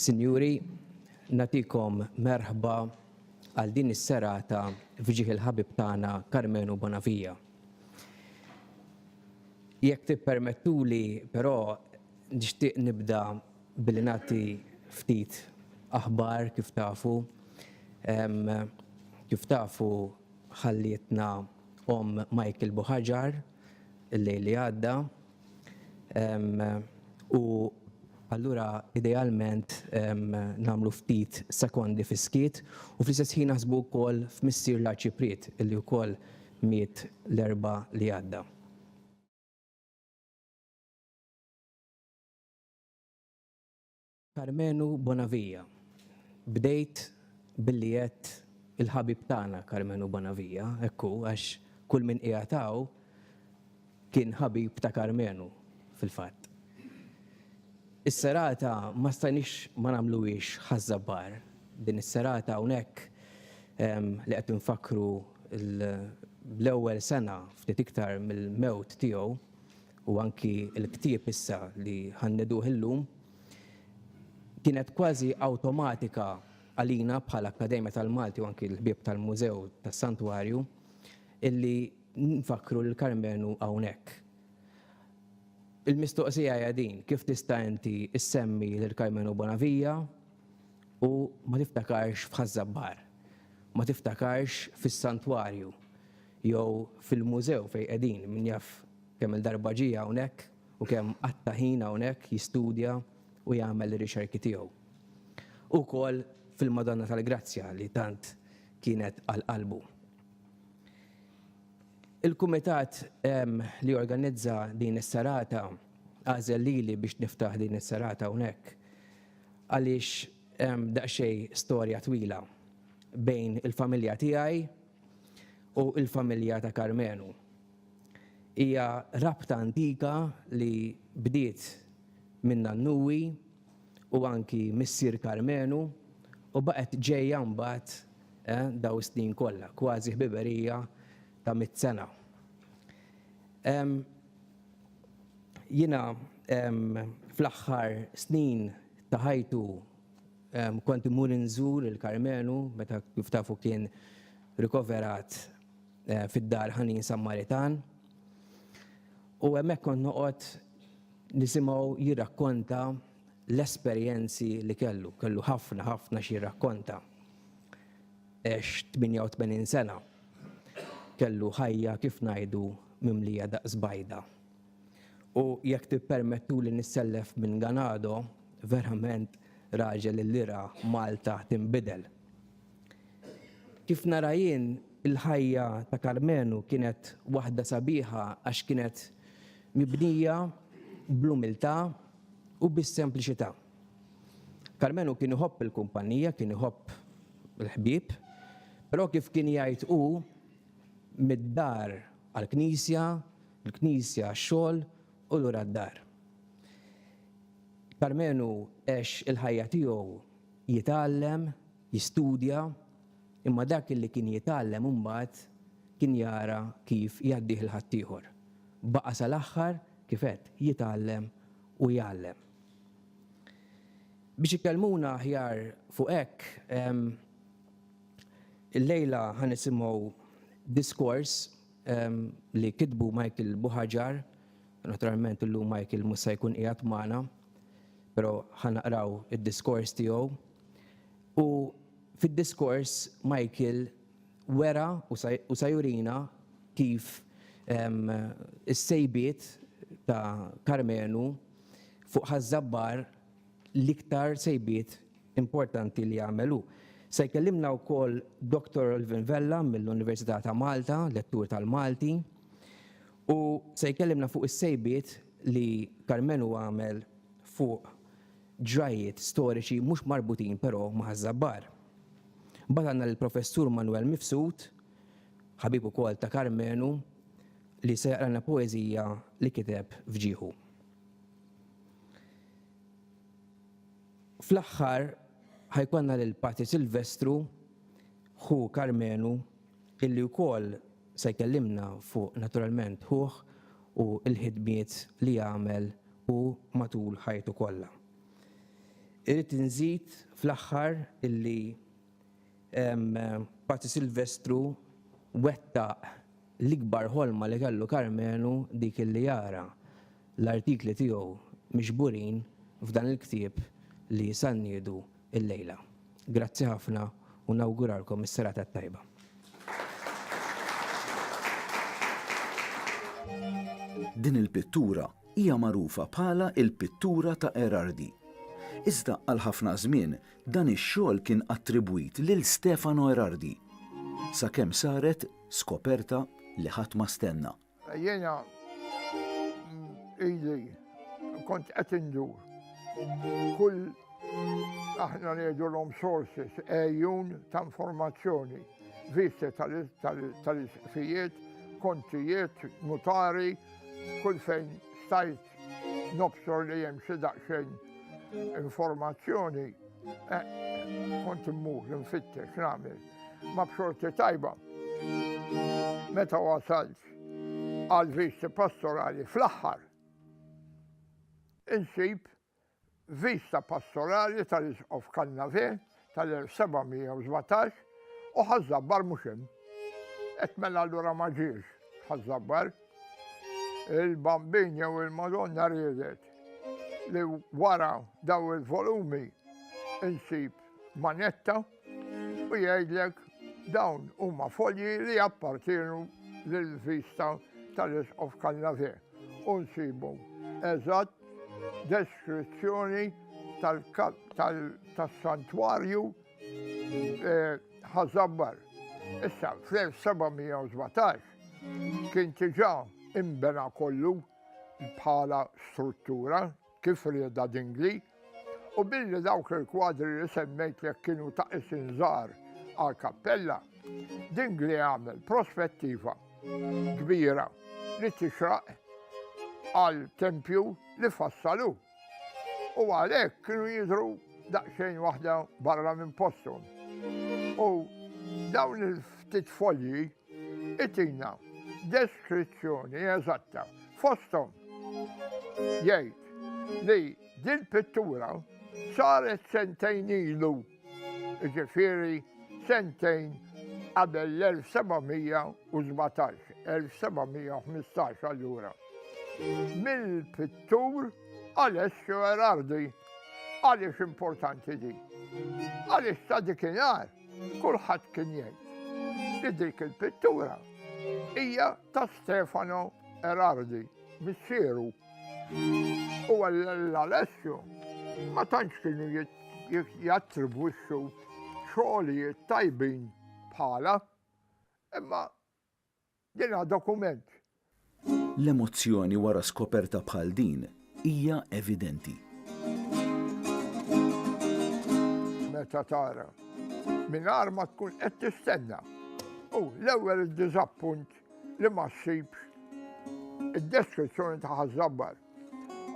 Sinjuri, nagħtikom merħba għal din is-serata f'ġieħ il-ħabib tagħna Karmenu Bonavia. Jekk tippermettuli però nixtieq nibda billi nagħti ftit aħbar kif tafu. Kif tafu ħallietna omm Michael Buhaġar, il-lejl li għadda. Um, u allura idealment um, namlu ftit sekondi fiskiet u fl-istess ħin naħsbu wkoll f'Missier l-Arċipriet illi wkoll miet l-erba li għadda. Karmenu Bonavia, Bdejt billi għedt il-ħabib tagħna Karmenu Bonavia, hekk hu, għax kull min qiegħed hawn kien ħabib ta' Karmenu, fil-fatt. Is-serata ma stajniex ma nagħmluhiex Ħaż-Żabbar, din is-serata hawnhekk li qed infakkru l-ewwel sena, ftit iktar mill-mewt tiegħu, u anki l-ktieb issa li ħa nneduh illum, kienet kważi awtomatika għalina bħal Akkademja tal-Malti u anki l-ħbieb tal-Mużew tas-Santwarju illi nfakkru lil Karmenu hawnhekk. Il-mistoqsija hija din, kif tista' inti issemmi lil Karmenu Bonavija u ma tiftakarx f'Ħaż-Żabbar, ma tiftakarx fis-Santwarju jew fil-Mużew fejn qegħdin, min jaf kemm-il darba ġie hawnhekk, u kemm qatta' ħin hawnhekk jistudja u jagħmel ir-rixerki tiegħu. U wkoll fil-Madonna tal-Grazzja li tant kienet għal qalbu. Il-kumitat li organizza din is-serata għażel lili biex niftaħ din is-serata hawnhekk għaliex hemm daqsxejn storja twila bejn il-familja tiegħi u l-familja ta' Karmenu. Hija rabta antika li bdiet minn nannuwi u anki missier Karmenu u baqgħet ġejja mbagħad dawn is-snin kollha, kważi ħbiberija ta' mitt sena. Jiena fl-aħħar snin ta' ħajtu kont immur inżur il-Karmenu meta kif tafu kien rikoverat eh, fid-dar ħanin Sammaritan. U hemmhekk kont noqgħod nisimgħu jirrakkonta l-esperjenzi li kellu, kellu ħafna ħafna xi jirrakkonta. Ex 88 sena kellu ħajja kif ngħidu mimlija daqs bajda. U jekk tippermettu li nissellef minn Ganado, verament raġel li ra Malta timbidel. Kif nara jien, il-ħajja ta' Karmenu kienet waħda sabiħa għax kienet mibnija bl-umiltà u bis-sempliċità. Karmenu kien iħobb il-kumpanija, kien iħobb il-ħbieb, però kif kien jgħid hu, mid-dar għall-knisja, mill-knisja għax-xogħol u lura d-dar. Karmenu għex il-ħajja tiegħu jitgħallem, jistudja, imma dak illi kien jitgħallem imbagħad kien jara kif jgħaddih 'l ħaddieħor. Baqa' sal-aħħar, kif għedt, jitgħallem u jgħallem. Biex ikellmuna aħjar fuq hekk, illejla ħa nisimgħu diskors li kitbu Michael Buhagiar, Naturalment illum Michael mhux se jkun qiegħed magħna, però ħanaqraw id-diskors tiegħu. U fid-diskors Michael wera u se jurina kif is-sejbiet ta' Karmenu fuq Ħaż-Żabbar l-iktar sejbiet importanti li għamel hu. Se jkellimna wkoll Doctor Alvin Vella mill-Università ta' Malta, lettur tal-Malti, Hu se jkellimna fuq is-sejbiet li Karmenu għamel fuq ġrajjiet storiċi mhux marbutin però ma' Ħaż-Żabbar. Mbagħad għandna lill-Professur Manwel Mifsud, ħabib ukoll ta' Karmenu, li se jaqralna poeżija li kiteb f'ġieħu. Fl-aħħar ħa jkollna lil Patri Silvestru, ħu Karmenu, illi wkoll se jkellimna fuq naturalment ħuh u l-ħidmiet li għamel hu matul ħajtu kollha. Irrid inżid fl-aħħar illi Patri Silvestru wettaq l-ikbar ħolma li kellu Karmenu dik illi jara l-artikli tiegħu miġburin f'dan il-ktieb li sanniedu illejla. Grazzi ħafna u nawguralkom is-serata t-tajba. Din il-pittura hija magħrufa bħala il-pittura ta' Gherardi. Iżda għal ħafna żmien dan ix-xogħol kien attribwit lil Stefano Gherardi, sakemm saret skoperta li ħadd ma stenna. Jiena ili kont qed indur. Kull aħna ngħidulhom sources, ejjun ta' informazzjoni, visti tal-isqfijiet, kontijiet, notari, kull fejn stajt Nobsor li hemm xi daqsxejn informazzjoni, eh, kont immur nfittex nagħmel ma b'xorti tajba. Meta wasalt għal visti pastorali fl-aħħar insib Vista Pastorali tal-Isqof Cannave tal-1717 u Ħaż-Żabbar mhux hemm. Qed mela allura ma ġiex Ħaż-Żabbar. Il-Bambin jew il-Madonna riedet li wara daw il-volumi insib manetta U jgħidlek dawn huma folji li appartienu lill-vista tal-Isqof Cannavè u nsibu eżatt deskrizzjoni tas-santwarju eh, ħażabbar. Issa, fl-1717 kien tiġa imbena kollu bħala struttura kif riedha Dingli, u billi dawk il-kwadri li semmejtlek kienu ta' isin żgħar għal kappella, Dingli għamel prospettiva kbira li tixraq għal tempju li fassalu. U għalhekk kienu jidru daqsxejn waħda barra minn postom. U dawn il-ftit folji Itina deskrizzjoni eżatta fosthom jgħid li dil-pittura saret sentejn ilu, ġifieri sentejn qabel l-1717, 1715 allura, mill-pittur Alessio Erardi. Għaliex importanti di? Għaliex ta' dikinhar Kulħadd kien jgħid li dik il-pittura hija ta' Stefano Erardi, missieru. U l-Alessio ma tantx kienu jattribwixxu xogħlijiet tajbin bħala, imma Din ha dokument. L-emozzjoni wara skoperta bħal din hija evidenti. Meta tara mingħajr ma tkun qed tistenna u l-ewwel id-diżappunt li ma ssibx id-deskrizzjoni ta' ħażabbar.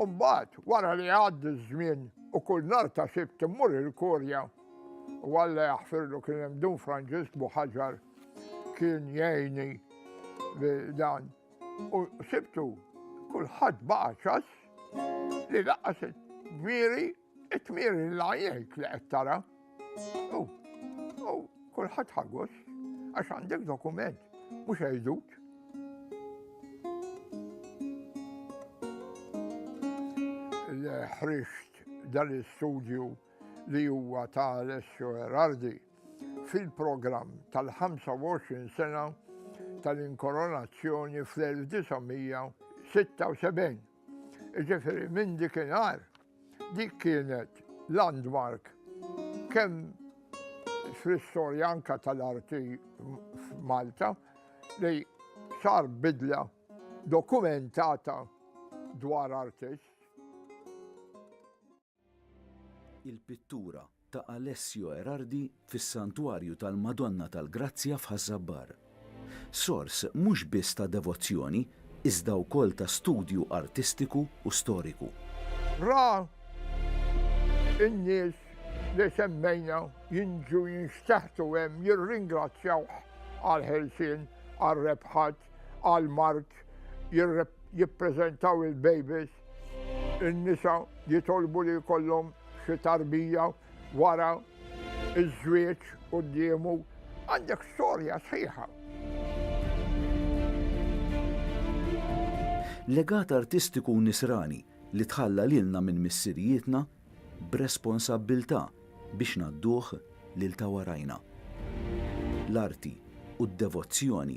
Umbagħad wara li għaddi ż-żmien u kull nar ta' sibt immur il-korja U Alla jaħfirlu kien hemm Dun Franġisk Buħaġar kien jgħini dan. U sibtu kulħadd baqa' ċass li laqas it-tmiri, it-tmiri la jgħid li qed tara. U kulħadd ħagos għax għandek dokument mhux għajdut. Ħriġt dan l-istudju li huwa ta' Alessio Gherardi, fil-programm tal-25 sena tal-inkoronazzjoni fl-1976. Jiġifieri minn dikinhar dik kienet landmark kemm fl-istorja anke tal-arti f'Malta li sar bidla dokumentata dwar artist. Il-pittura ta' Alessio Erardi fis-Santwarju tal-Madonna tal-Grazzja f'Ħaż-Żabbar. Sors mhux biss ta' devozzjoni iżda wkoll ta' studju artistiku u storiku. Ra n-nies li semmejna jinġu jinxteħtu hemm jirringrazzjawh għall-ħelsien, għar-rebħat, għall-mard, jippreżentaw il-bejbis, In-nisa jitolbu li jkollhom xi tarbija wara ż-żwieġ quddiemu. Għandek storja sħiħa. Legat artistiku nisrani li tħalla lilna minn missirijietna b'responsabbiltà biex ngħadduh lil ta' warajna. L-arti u d-devozzjoni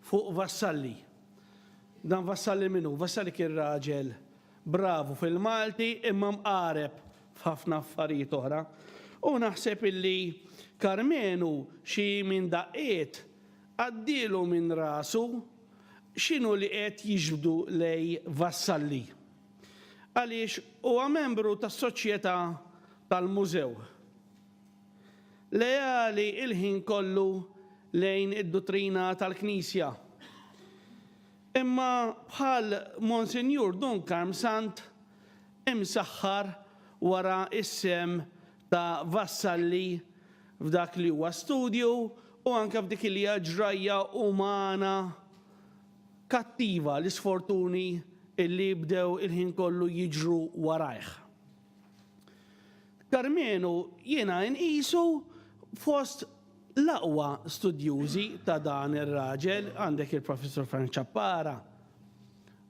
Fuq Vassalli. Dan Vassalli min hu? Vassalli kien raġel bravu fil-Malti imma mqareb f'ħafna affarijiet oħra. U naħseb illi Karmenu xi min daqqiet għaddielu minn rasu x'inhu li qed jiġbdu lej Vassalli. Għaliex huwa membru tas-Soċjetà tal-Mużew. leali l-ħin kollu lejn id-duttrina tal-Knisja. Imma bħal Monsinjur Dunkarm Sant imsaħħar wara s-sehem ta' Vassalli f'dak li huwa studju u anke f'dik li hija ġrajja umana kattiva, l-isfortuni li bdew il-ħin kollu jiġru warajh. Karmenu jiena inqisu fost l-aqwa studjużi ta' dan ir-raġel, għandek il-Professur Frank Ciappara,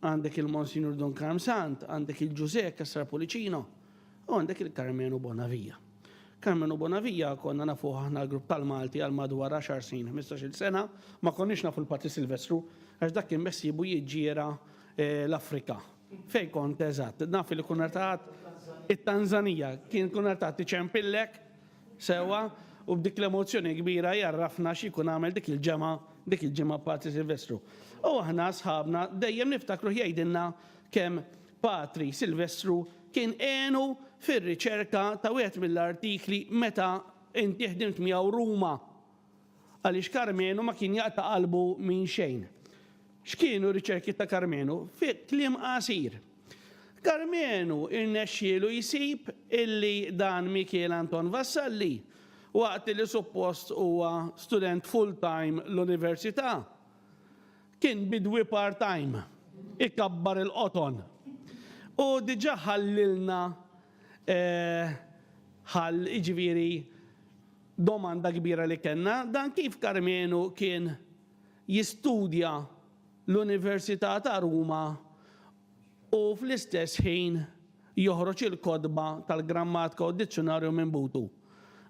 għandek il-Monsinjur Don Karm Sant, għandek il-Ġużè Cassar Pulicino, u għandek il-Karmenu Bonavija. Karmenu Bonavija konna nafu aħna l-grupp tal-Malti għal madwar 10 snin, 15-il sena, ma konniex nafu l-Patri Silvestru, għax dak kien bessiebu jiġġiera eh, l-Afrika. Fejn kont eżatt? Naf li kunartat it-Tanzanija. Kien kunartat iċempillek sewwa u b'dik l-emozzjoni kbira jgħarrafna x'jkun għamel dik il-ġemgħa dik il-ġimgħa Patri Silvestru. U aħna sħabna dejjem niftakruh jgħidilna kemm Patri Silvestru kien għenu fir-riċerka ta' wieħed mill-artikli meta inti ħdimt miegħu Ruma. Għaliex Karmenu ma kien jaqta' qalbu minn xejn. X'kienu r-riċerki ta' Karmenu? Fi kliem qasir, Karmenu rnexxielu jsib illi dan Mikiel Anton Vassalli, waqt li suppost huwa student full-time l-Università, kien bidwi part-time, ikabbar il-qoton. U diġà ħallilna ħall, jiġifieri, Domanda kbira li kellna, dan kif Karmenu kien jistudja l-Università ta' Ruma u fl-istess ħin joħroġ il-kotba tal-Grammatka u d-Dizzjunarju minn butu?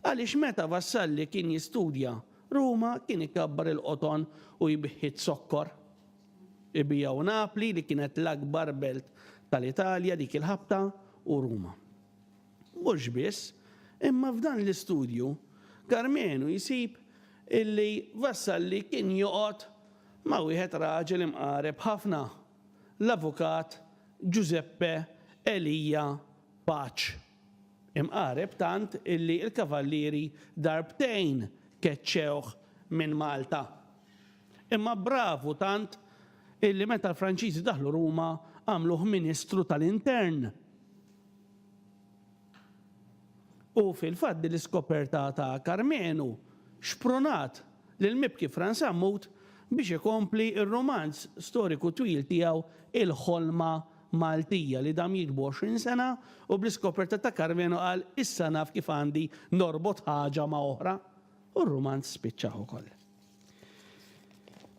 Għaliex meta Vassalli kien jistudja Ruma kien ikabbar il-qoton u jbiħħi z-zokkor? Ibigħu Napli li kienet l-akbar belt tal-Italja dik il-ħabta u Ruma. Mhux biss, imma f'dan l-istudju Karmenu jsib illi Vassalli kien joqgħod ma' wieħed raġel imqareb ħafna, l-avukat Giuseppe Elia Pac. Imqareb tant illi l-Kavallieri darbtejn keċċewh minn Malta. Imma bravu tant illi meta l-Franċiżi daħlu Ruma għamluh Ministru tal-Intern. U fil-fatt din l-iskoperta ta' Karmenu xprunat lill-mibki Frans Sammut biex ikompli r-rumanz storiku twil tiegħu Il-Ħolma Maltija li dam jiktbu għoxrin sena u bl-iskoperta ta' Karmenu qal issa naf kif għandi norbot ħaġa ma' oħra u r-rumanz spiċċa ukoll.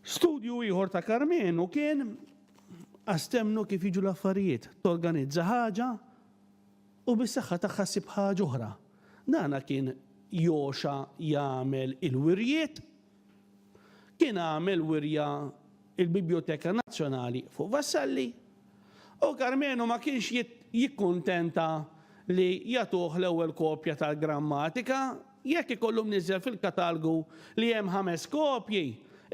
Studju ieħor ta' Karmenu kien astemnu kif jiġu l-affarijiet. Torganizza ħaġa u bis-saħħa tagħha ssib ħaġa oħra. Dana kien Joxa jagħmel il-wirjiet. Kien għamel wirja il-Bibjoteka Nazzjonali fuq Vassalli. U Karmenu ma kienx jikkuntenta li jagħtuh l-ewwel kopja tal-grammatika Jekk ikollu mniżżel fil-katalgu li hemm ħames kopji,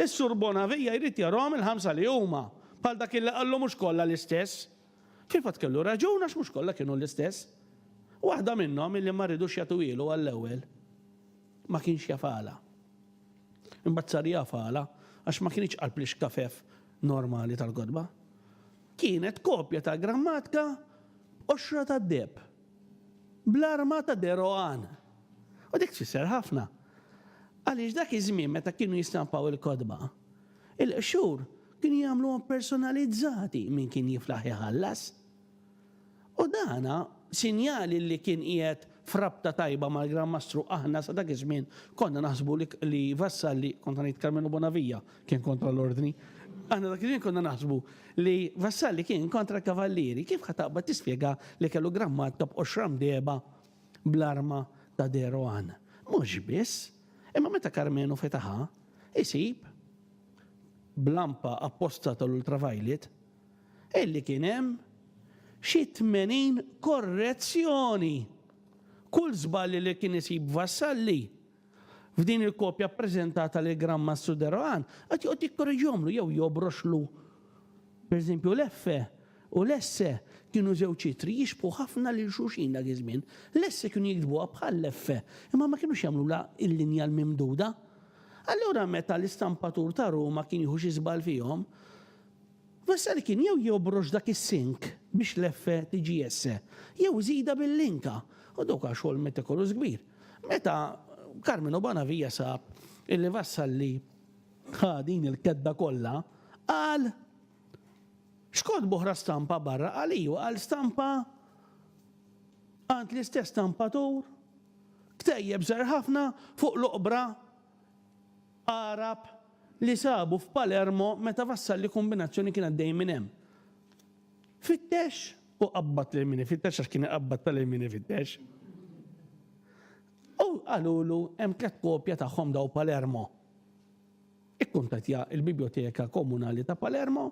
is-Sur Bonavija jrid jarahom il-ħamsa li huma, bħal dak illi qallu mhux kollha l-istess. Fil-fatt kellu raġun għax mhux kollha kienu l-istess. Waħda minnhom illi ma ridux jagħtuhielu għall-ewwel ma kienx jaf għala. Imbagħad sar jaf għala għax ma kinitx qalb l-ixkafef normali tal-kotba. Kienet kopja tal-grammatka Qoxra tad-Deheb. bl-arma ta' Deroan. U dik tfisser ħafna. Għaliex dak iż-żmien meta kienu jistampaw il-kotba, il-qxur kienu jagħmluhom personalizzati min kien jiflaħ iħallas. U dan sinjal li kien qiegħed f'rabta tajba mal-Gran Mastru aħna sa dak iż-żmien konna naħsbu li vassalli, kont ngħid Karmenu Bonavija, Kien kontra l-ordni. Aħna dak iż-żmien konna naħsbu li Vassalli kien kontra l-kavallieri. Kif ħa taqbad tispjega li kellu grammat ta' b'qoxra mdegħba bl-arma ta' De Rohan? Mhux biss, imma meta Karmenu fetaħha, isib, b'lampa apposta tal-ultraviolet, illi kien hemm xi tmenin korrezzjoni! Kull żball li kien isib Vassalli, F'din il-kopja ppreżentata lill-Gran Mastru de Rohan, qed joqgħod jikkoreġihomlu jew jobroxlu. Pereżempju, l-F u l-S kienu żewġ ittri jixbħu ħafna lil xulxin dak iż-żmien. L-S kienu jiktbuha bħall-F, imma ma kinux jagħmlulha l-linja l-mimduda. Allura meta l-istampatur ta' Ruma kien jieħu xi żball fihom, Vasari kien jew jobrox dak is-sink biex l-F tiġi S, jew iżidha bil-linka, u dawk għax xogħol metikolus kbir. Meta Carmenu Bonavia sab illi Vassalli ħa din il-kedba kollha, qal, X'kotb oħra stampa barra? Qal iju, qal stampa għand l-istess stampatur, ktejjeb żgħar ħafna fuq l-oqbra Għarab li sabu f'Palermo meta Vassalli Kumbinazzjoni kien għaddej minn hemm. Fittex u qabbad lil min ifittex għax kien iqabbad ta' lil min ifittex. U qalulu hemm tliet kopja tagħhom daw Palermo. Ikkuntattja il-Biblioteka Komunali ta' Palermo,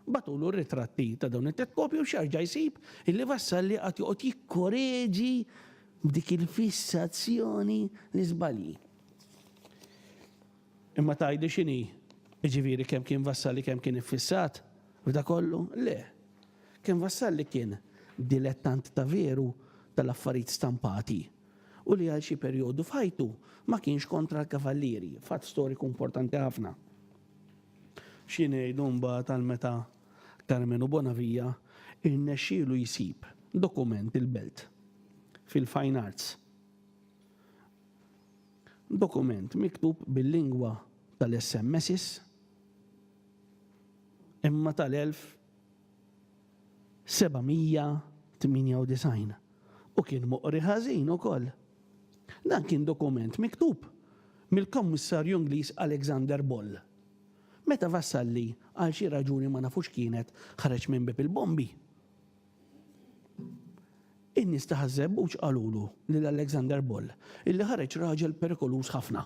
batulu r-ritratti ta' dawn it-tliet kopji u x'jarġa' jsib illi Vassalli għad joqgħod jikkoreġi b'dik il-fissazzjoni l-iżbalji. Imma tgħidli x'inhi? Jiġifieri kemm kien Vassalli kemm kien iffissat f'dak kollu? Le. Kien Vassalli kien dilettant ta' veru tal-affarijiet stampati u li għal xi perjodu f'ħajtu ma kienx kontra l-Kavallieri, fatt storiku importanti ħafna. Xi ngħidu mbagħad għal meta Karmenu Bonavia rnexxielu jsib dokument il-belt fil-fine arts Dokument miktub bil-lingwa tal-SMSs imma tal-1798 u kien moqri ħażin ukoll. Dan kien dokument miktub mill-Kommissarju Ingliż Alexander Ball meta Vassalli għal xi raġuni ma nafu x'kienet ħareġ minn bieb il-bombi. In-nies ta' Ħaż-Żebbuġ qalulu lil Alexander Boll illi ħareġ raġel perikoluż ħafna.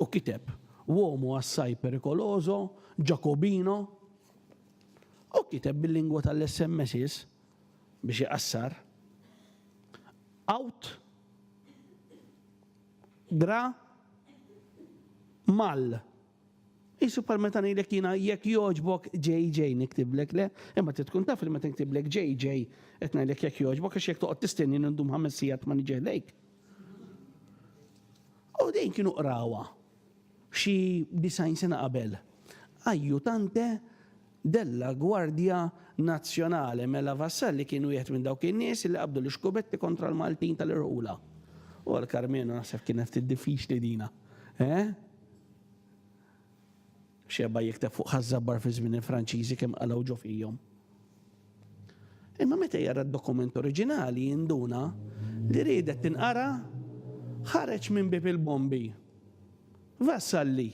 U kiteb, Uomo assai pericoloso, Giacobino. U kiteb bil-lingwa tal-SMSs, biex iqassar, Aut gra mal Qisu bħal meta ngħidlek jiena jekk jogħġbok JJ niktiblek le, imma trid tkun taf li meta niktiblek JJ qed ngħidlek jekk jogħġbok għax jekk toqgħod tistenni nindum ħames sigħat ma niġi ħdejk. U dejn kienu qrawa xi disajn sena qabel. Ajjutante della Gwardja Nazzjonali mela Vassalli kien wieħed minn dawk in-nies li qabdu l-ixkubetti kontra l-Maltin tal-irħula. U għal Karmenu naħseb kienet ftit diffiċli dina. Eh? Xeba jikteb fuq ħażżabbar fi żmien il-Franċiżi kemm qalgħu ġo fihom. Imma meta jara d-dokument oriġinali jinduna li riedet tinqara ħareġ minn bib il-bombi. Vassalli.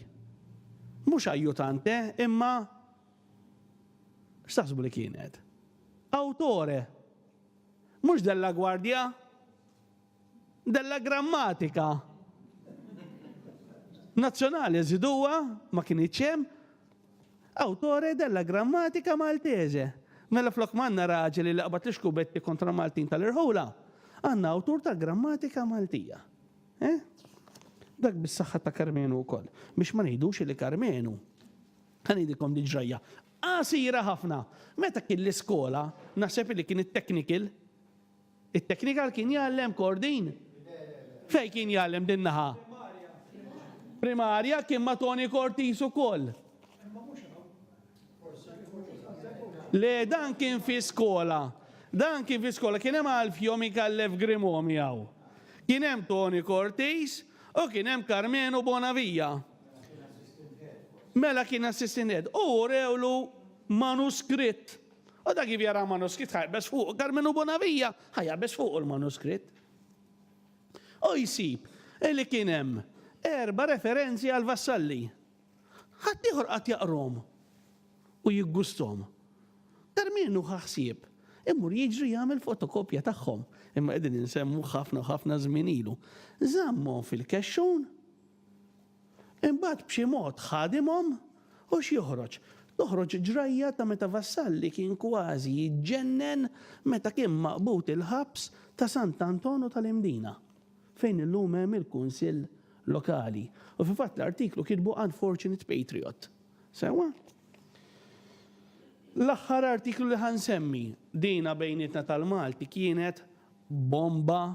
Mhux ajjutante, imma x'taħsbu li kienet? Awtore. Mhux della gwardja? Della grammatika nazzjonali żiduha ma kinitx hemm awtore della grammatika Maltese. Mela flok ma għandna raġel li qabad l-ixkubetti kontra Maltin tal-irħula, għandna awtur tal-grammatika Maltija. Eh? Dak bis-saħħa ta' Karmenu wkoll. Biex ma ngħidux li Karmenu, ħanidilkom din ġrajja. Qasira ħafna. Meta kien l-iskola, naħseb li kien it-technical, It-technical kien jgħallem Kordin? Fejn kien jgħallem din naħa? Primarja kien ma' Toni Cortis ukoll. Le dan kien fi skola. Dan kien fi skola kien hemm Alfio Micallef Grimo miegħu. Kien hemm Toni Cortis u kien hemm Karmenu Bonavija. Mela kien assistant head. U urewlu manuskritt U dak kif jara manuskritt ħajqbeż fuqu kar minnu Bonavija ħajqbeż fuqu l-manuskritt. U jsib li kien hemm erba' referenzi għal vassalli. Ħadd ieħor qatt jaqrom u jiggustom. Kar minnu ħaħsieb imur jiġri jagħmel fotokopja tagħhom. Imma qegħdin insemmu ħafna u ħafna żmien ilu. Żammhom fil-kexxun Imbagħad b'xi mod ħadimhom u x'joħroġ? Toħroġ ġrajja ta' meta Vassalli kien kważi jiġġennen meta kien maqbud il-ħabs ta' Sant' Anton u tal-Imdina, fejn illum hemm il-Kunsill Lokali. U fil-fatt l-artiklu kitbu Unfortunate Patriot. Sewwa? L-aħħar artiklu li ħa nsemmi, dina bejnietna tal-Malti kienet bomba,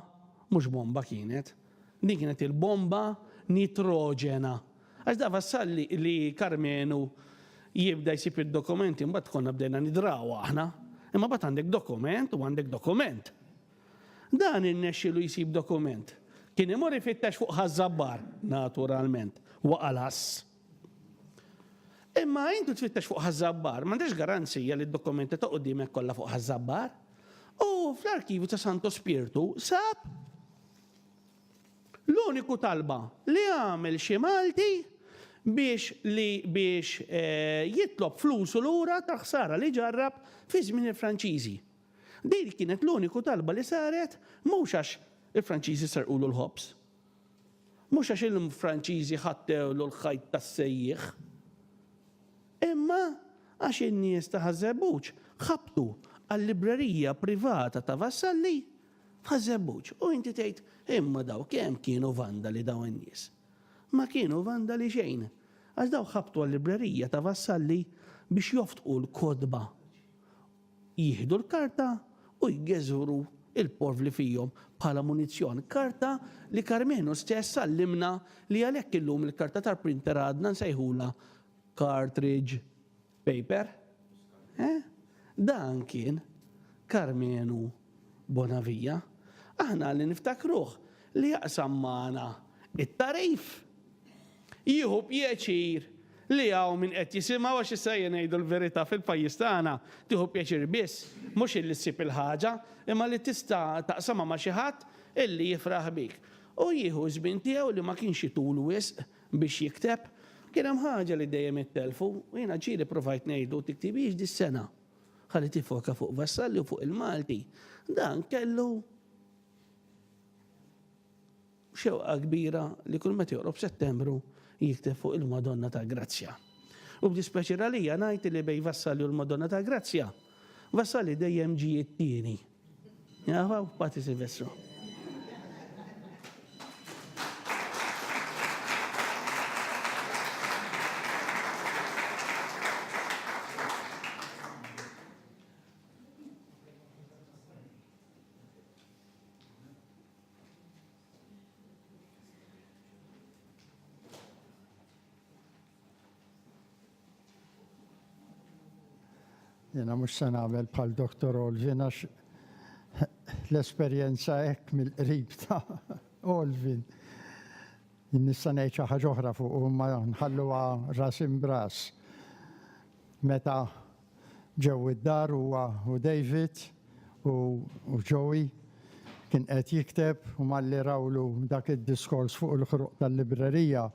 mhux bomba kienet, Din kienet il-bomba nitroġena. Għax da wassal li Karmenu jibda jsib id-dokumenti mbagħad konna bdejna nidraw aħna. Imma mbagħad għandek dokument u għandek dokument. Dan irnexxielu jsib dokument. Kien imur ifittex fuq Ħaż-Żabbar, naturalment, waqa' l-għass. Imma intu tfittex fuq Ħaż-Żabbar, m'għandekx garanzija li d-dokumenti ta' qudiemek kollha fuq Ħaż-Żabbar. U fl-arkivju ta' Santu Spirtu sab L-uniku talba li għamel xi Malti biex li biex jitlob flusu lura tal-ħsara li ġarrab fi żmien il-Franċiżi. Din kienet l-uniku talba li saret mhux għax il-Franċiżi serqulu l-ħobż. Mhux għax il-Franċiżi ħattewlu l-ħajt tas-sejjieħ. Imma għax in-nies ta' Ħaż-Żebbuġ ħabtu għal-librerija privata ta' Vassalli Bħaż-Żebbuġ. U inti tgħid, 'Imma daw kemm kienu vandali dawn in-nies? Ma kienu vandali xejn, għax dawk ħabtu għal-librerija ta' Vassalli biex joftqu l-kotba, jieħdu l-karta u jgeżwru l-porf li fihom bħala munizzjon, karta li Karmenu stess għallimna li għalhekk illum il-karta tal-printer għadna nsejħulha cartridge. Paper? Eh? Dan kien Karmenu Bonavija. Aħna li niftakruh li jaqsam magħna it-tagħrif. Jieħu pjaċir li hawn min qed jisimgħu għax issa ejja ngħidu l-verità fil-pajjiż tagħna tieħu pjaċir biss mhux illi ssib il-ħaġa imma li tista' taqsamha ma' xi ħadd illi jifraħ bik. U jieħu ż-żmien tiegħu li ma kienx itul wisq biex jikteb, kien hemm ħaġa li dejjem ittelfu u jiena ġieli provajt ngħidlu tiktibhiex dis-sena ħalli tiffoka fuq Vassalli u fuq il-Malti. Dan kellu xewqa kbira li kull meta joqrob Settembru jikteb fuq il-Madonna ta' Grazzja. U b'dispjaċir għalija ngħid li bejn Vassalli u l-Madonna ta' Grazzja, Vassalli dejjem ġie t-tieni. Jafaw, Pati Silvestro. Jena mux se nagħmel bħal Dr. Olvin għax l-esperjenza hekk mill-qrib ta' Olvin. Nista' ngħid xi ħaġa oħra fuq u ma nħalluha ras imbras. Meta ġew id-dar huwa u David u Joey kien qed jikteb u malli rawlu dak id-diskors fuq il-ħruq tal-librerija,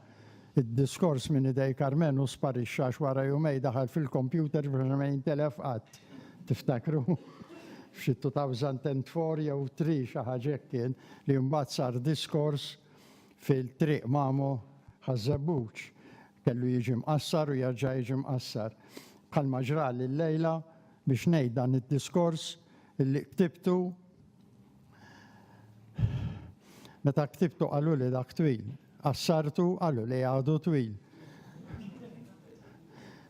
id-diskors minn idej Karmenu sparixxa għax wara jumej daħal fil-kompjuter biex ma jintilef qatt. Tiftakru? F'xi 2004 jew 3 xi ħaġa hekk kien li mbagħad sar diskors fil-Triq Mamo Ħaż-Żebbuġ. Kellu jiġi mqassar u jerġa' jiġi mqassar. Bħalma ġrali llejla biex ngħid dan id-diskors li ktibtu meta ktibtu qaluli dak twil. Qassartu qalu li għadu twil.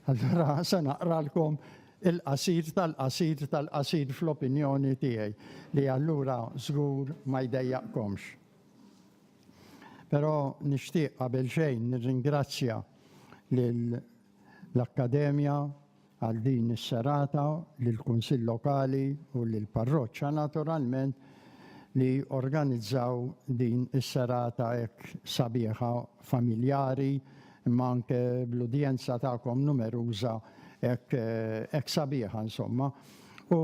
Allura se naqralkom il-qasir tal-qasir tal-qasir fl-opinjoni tiegħi li allura żgur ma jdejjaqkomx. Però nixtieq qabel xejn nirringrazzja lill-Akkademja għal din is-serata, lill-Kunsill Lokali u lill-Parroċċa naturalment li organizzaw din is-serata hekk sabiħa familjari imma anke bl-udjenza tagħkom numeruża hekk hekk sabiħa insomma. U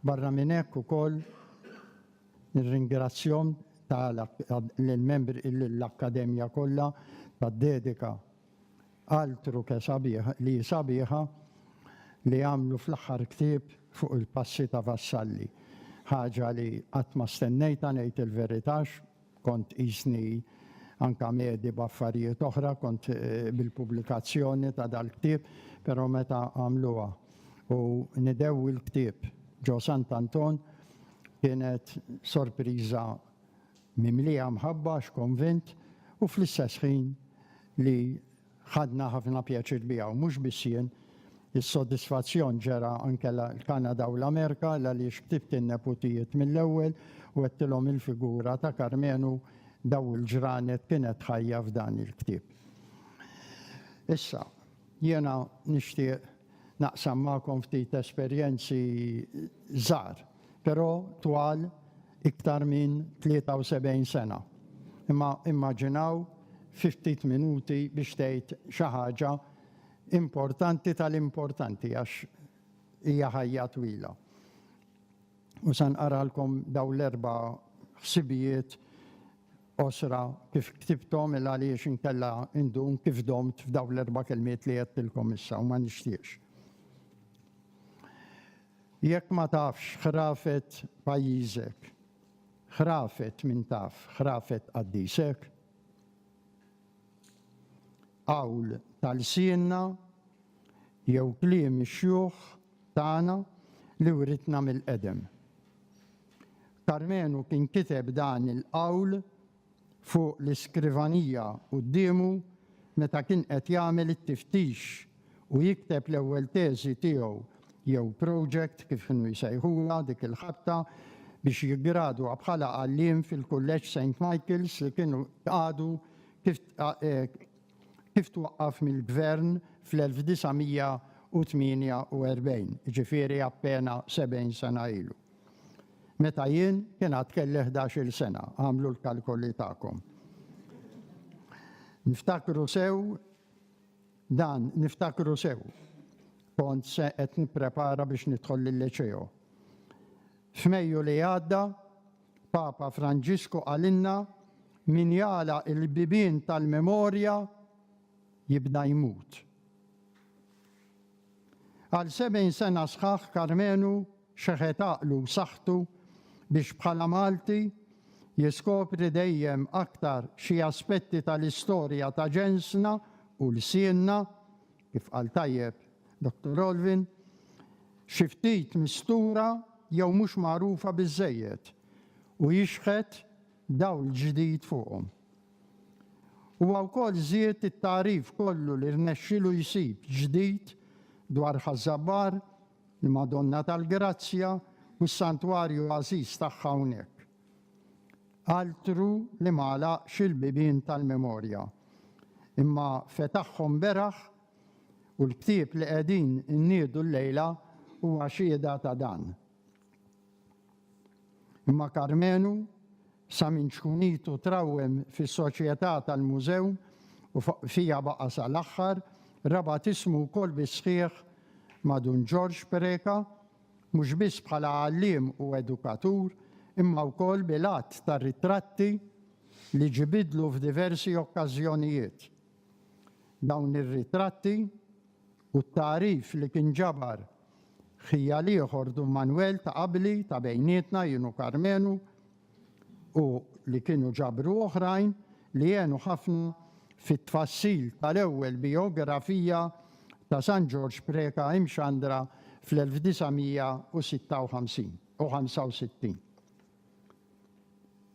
barra minn hekk ukoll Nirringrazzjahom ta' lill-membri lill-Akkademja kollha tad-dedika għal truke sabiħa li sabiħa li għamlu fl-aħħar ktieb fuq il-passi ta' Vassalli. Ħaġa li qatt ma stennejtha ngħid il-verità għax kont qisni anke medi b'affarijiet oħra kont bil-pubblikazzjoni ta' dal-ktieb però meta għamluha u nidewwi l-ktieb ġo Sant'Anton Kienet sorpriża mimlija mħabba għax konvint u fl-istess ħin li ħadna ħafna pjaċir biha u mhux biss jien, is-sodisfazzjon ġera anke l-Kanada u l-Amerika l-għaliex ktibt in-neputijiet mill-ewwel u għedtilhom il-figura ta' Karmenu daw il-ġranet kienet ħajja f'dan il-ktieb. Issa, jiena nixtieq naqsam magħkom ftit esperjenzi żgħar, però twal iktar minn 73 sena. Imma immaġinaw fi ftit minuti biex tgħid xi ħaġa importanti tal-importanti għax hija ħajja twila. U se nqaralkom dawn l-erba' ħsibijiet qosra kif ktibthom il għaliex inkella indum kif domt f'dawn l-erba' kelmiet li għedtilkom issa u ma nixtieqx. Jekk ma tafx ħrafet pajjiżek, ħrafet min taf, ħrafet qaddisek? Qawl ta' lsienna jew kliem ix-xjuħ tagħna li writna mill-qedem. Karmenu kien kiteb dan il-qawl fuq l-iskrivanija quddiemu meta kien qed jagħmel it-tiftix u jikteb l-ewwel teżi tiegħu jew project kif kienu jsejħulha dik il-ħabta biex jiggradwa bħala għalliem fil-Kulleġġ Saint Michael's li kienu tqagħdu kif eh, kif twaqqaf mill-Gvern fl-1948, jiġifieri appena 70 sena ilu. Meta jien kien għad kelli ħdax-il sena, agħmlu l-kalkoli tagħkom. Niftakru sew dan, niftakru sew. Kont se qed nipprepara biex nidħol lil-Liċeo. F'Mejju li għadda, Papa Franġisku qalilna, Min jagħlaq il-bibien tal-memorja jibda jmut. Għal 70 sena sħaħ Karmenu xeħet għaqlu u saħħtu biex bħala Malti jiskopri dejjem aktar xi aspetti tal-istorja ta' ġensna u lsienna, Kif qal tajjeb Dottor Rolvin, xi ftit mistura jew mhux magħrufa biżżejjed u jixħet dawl ġdid fuqhom. Huwa wkoll żied it-tagħrif kollu li rnexxielu jsib ġdid dwar Ħaż-Żabbar, il-Madonna tal-Grazzja u s-santwarju għażiż tagħha hawnhekk. Altru li ma għalaqx il-bibien tal-memorja, imma fetaħhom beraħ u l-ktieb li qegħdin inniedu llejla huwa xhieda ta' dan. Imma Karmenu, sa minn ċkunitu trawwem fis-soċjetà tal-mużew u fiha baqa' sal-aħħar, rabat ismu wkoll bis-sħiħ ma' Dun Ġorġ Preca, mhux biss bħala għalliem u edukatur, imma wkoll bil-għadd ta' ritratti li ġibidlu f'diversi okkażjonijiet. Dawn ir-ritratti u t-tagħrif li kien ġabar ħija l-ieħor Dun Manwel ta' qabli ta' bejnietna jien u Karmenu u li kienu ġabru oħrajn li għenu ħafna fit-tfassil tal-ewwel bijografija ta' San Ġorġ Preca imxandra fl-1956 u 65.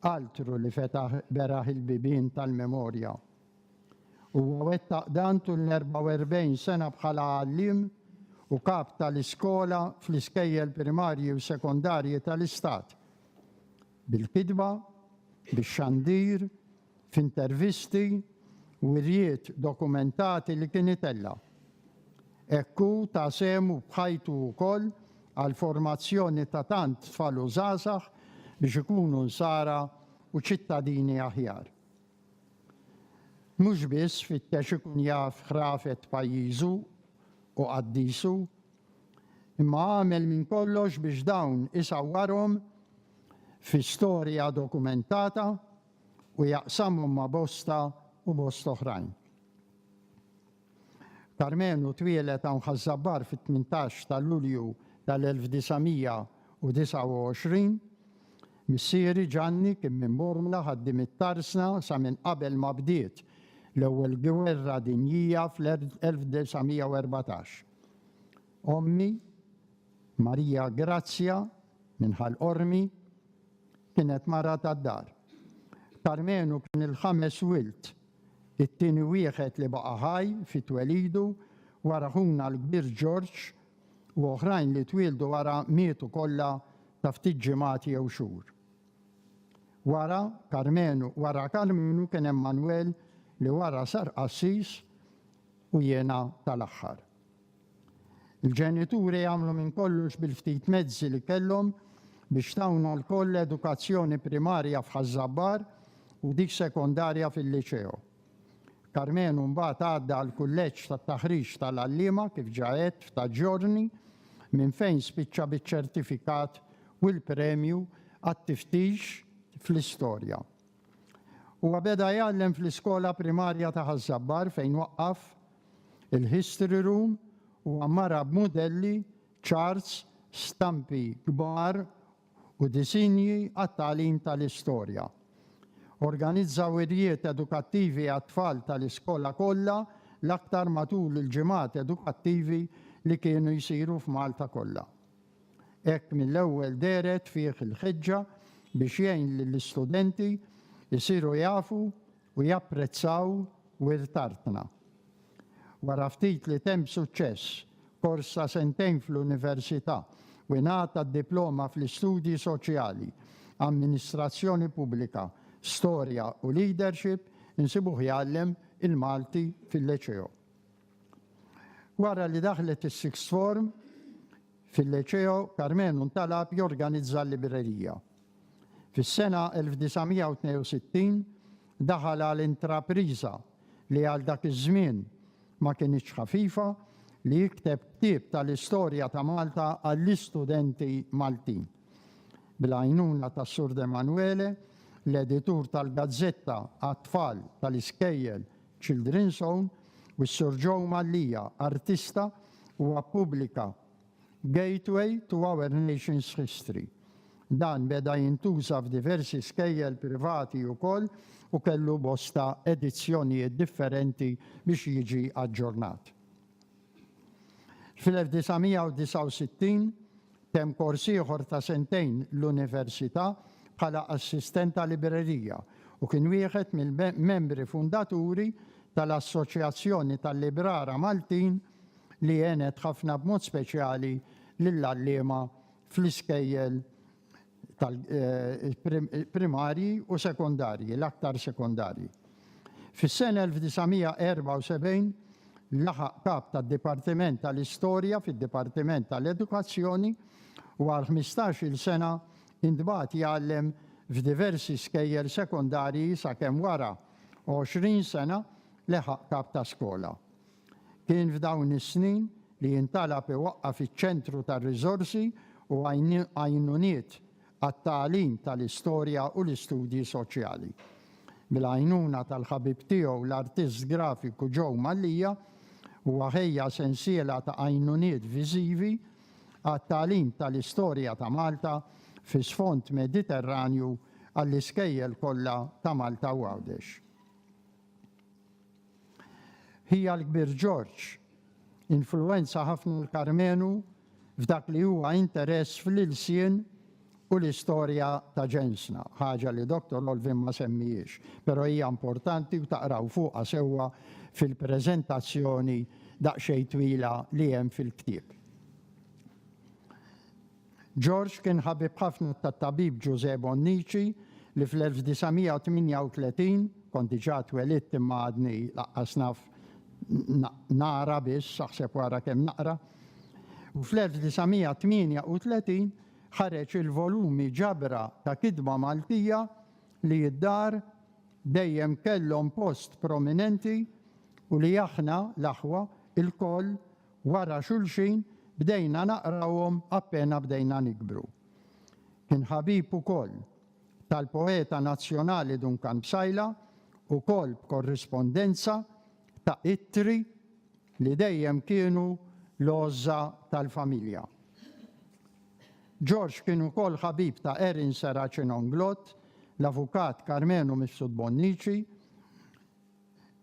Altru li fetaħ beraħ il-bibien tal-memorja. Huwa wettaq dan tul l-44 sena bħala għalliem u kap tal-iskola fl-iskejjel primarji u sekondarji tal-Istat, bil-kitba, bix-xandir, f'intervisti, wirjiet dokumentati li kien itella'. Hekk hu ta sehmu b'ħajtu wkoll għall-formazzjoni ta' tant tfal u żgħażagħ biex ikunu nsara u ċittadini aħjar. Mhux biss fittex ikun jaf ħrafet pajjiżu u qaddisu, imma għamel minn kollox biex dawn isawwarhom fi storja dokumentata u jaqsamhom ma' bosta u bosta oħrajn. Karmenu twieled hawn Ħaż-Żabbar fit-18 ta' Lulju tal-1929. Missieri Ġanni kien minn Bormla, ħaddiem it-Tarsna sa minn qabel ma bdiet l-Ewwel Gwerra Dinjija fl-1914. Ommi, Marija Grazzja minn Ħal Qormi, kienet mara tad-dar. Karmenu kien il-ħames wild, it-tieni wieħed li baqa' ħaj fi twelidu wara ħuna l-kbir Ġorġ u oħrajn li twieldu wara mietu kollha ta' ftit ġimgħat jew xhur. Wara Karmenu wara Karmenu kien hemm Manwel li wara sar qassis u jiena tal-aħħar. Il-ġenituri għamlu minn kollox bil-ftit mezzi li kellhom biex tawna lkoll edukazzjoni primarja f'Ħaż-Żabbar u dik sekondarja fil-Liċeo. Karmenu mbagħad għadda għall-Kulleġġ tat-Taħriġ tal-Għalliema kif ġa għedt f'ta' ġorni minn fejn spiċċa biċ-ċertifikat u l-premju għat-tiftix fl-istorja. Huwa beda jgħallem fl-iskola primarja ta' Ħaż-Żabbar fejn waqqaf il-History Room u għammarha b'mudelli, charts, stampi kbar u disinji għat-tagħlim tal-istorja. Organizza wirjiet edukattivi għat-tfal tal-iskola kollha l-aktar matul il-ġimgħat edukattivi li kienu jsiru f'Malta kollha. Hekk mill-ewwel dehret fih il-ħeġġa biex jgħin lill-istudenti jsiru jafu u japprezzaw wirt artna. Wara ftit li temm suċċess kors ta' sentejn fl-Università u ingħata d-diploma fl-Istudji Soċjali, Amministrazzjoni Pubblika, Storja u Leadership, insibuh jgħallem il-Malti fil-Liceo. Wara li daħlet is-Sixth Form fil-Liceo, Karmenu ntalab jorganizza l-librerija. Fis-sena 1962 daħal għal intrapriża li għal dak iż-żmien ma kinitx ħafifa li jikteb ktieb tal-istorja ta' Malta għall-istudenti Maltin. Bil-għajnuna ta' Sur D'Emanuele, l-editur tal-gazzetta għat-tfal tal-iskejjel Children's Own, u s-Sur Joe Mallia, artista, huwa ppubblika Gateway to Our Nation's History. Dan beda jintuża f'diversi skejjel privati ukoll u kellu bosta edizzjonijiet differenti biex jiġi aġġornat. Fil-1969 temm kors ieħor ta' sentejn l-università bħala assistent ta' librerija u kien wieħed mill-membri fundaturi tal-Assoċjazzjoni tal-Librara Maltin li għenet ħafna b'mod speċjali lill-għalliema fl-iskejjel tal-primarji u sekondarji, l-aktar sekondarji. Fis-sena 1974 laħaq Kap tad-Dipartiment tal-Istorja fid-Dipartiment tal-Edukazzjoni u għal ħmistax-il sena intbagħat jgħallem f'diversi skejjel sekondarji sakemm wara għoxrin sena leħaq Kap ta' Skola. Kien f'dawn is-snin li jintalab iwaqqaf iċ-Ċentru ta' Riżorsi u Għajnuniet għat-Tagħlim tal-Istorja u l-Istudji Soċjali. Bil-għajnuna tal-ħabib tiegħu l-artist grafiku Joe Mallia, huwa ħejja sensiela ta' għajnuniet viżivi għat-tagħlim tal-istorja ta' Malta fi sfond Mediterranju għall-iskejjel kollha ta' Malta u Għawdex. Ħija l-kbir Ġorġ influwenza ħafna l Karmenu f'dak li huwa interess fl-ilsien u l-istorja ta' ġensna, ħaġa li Dottor Olvin ma semmiex, però hija importanti u taqraw fuqha sewwa fil-preżentazzjoni daqsxejn twila li hemm fil-ktieb. George kien ħabib ħafna tat-tabib Ġużè Bonnici li fl-1938, kont diġà twelidt imma għadni laqqas naf naqra biss, aħseb u ara kemm naqra, u fl-1938 ħareġ il-volumi ġabra ta' kitba Maltija li d-dar dejjem kellhom post prominenti u li aħna, l-aħwa, ilkoll wara xulxin bdejna naqrawhom appena bdejna nikbru. Kien ħabib ukoll tal-poeta nazzjonali Duncan Psaila, ukoll b'korrispondenza ta' ittri li dejjem kienu l-għożża tal-familja. George kien ukoll ħabib ta' Erin Serracin Onglot, l-avukat Karmenu Mifsud Bonnici,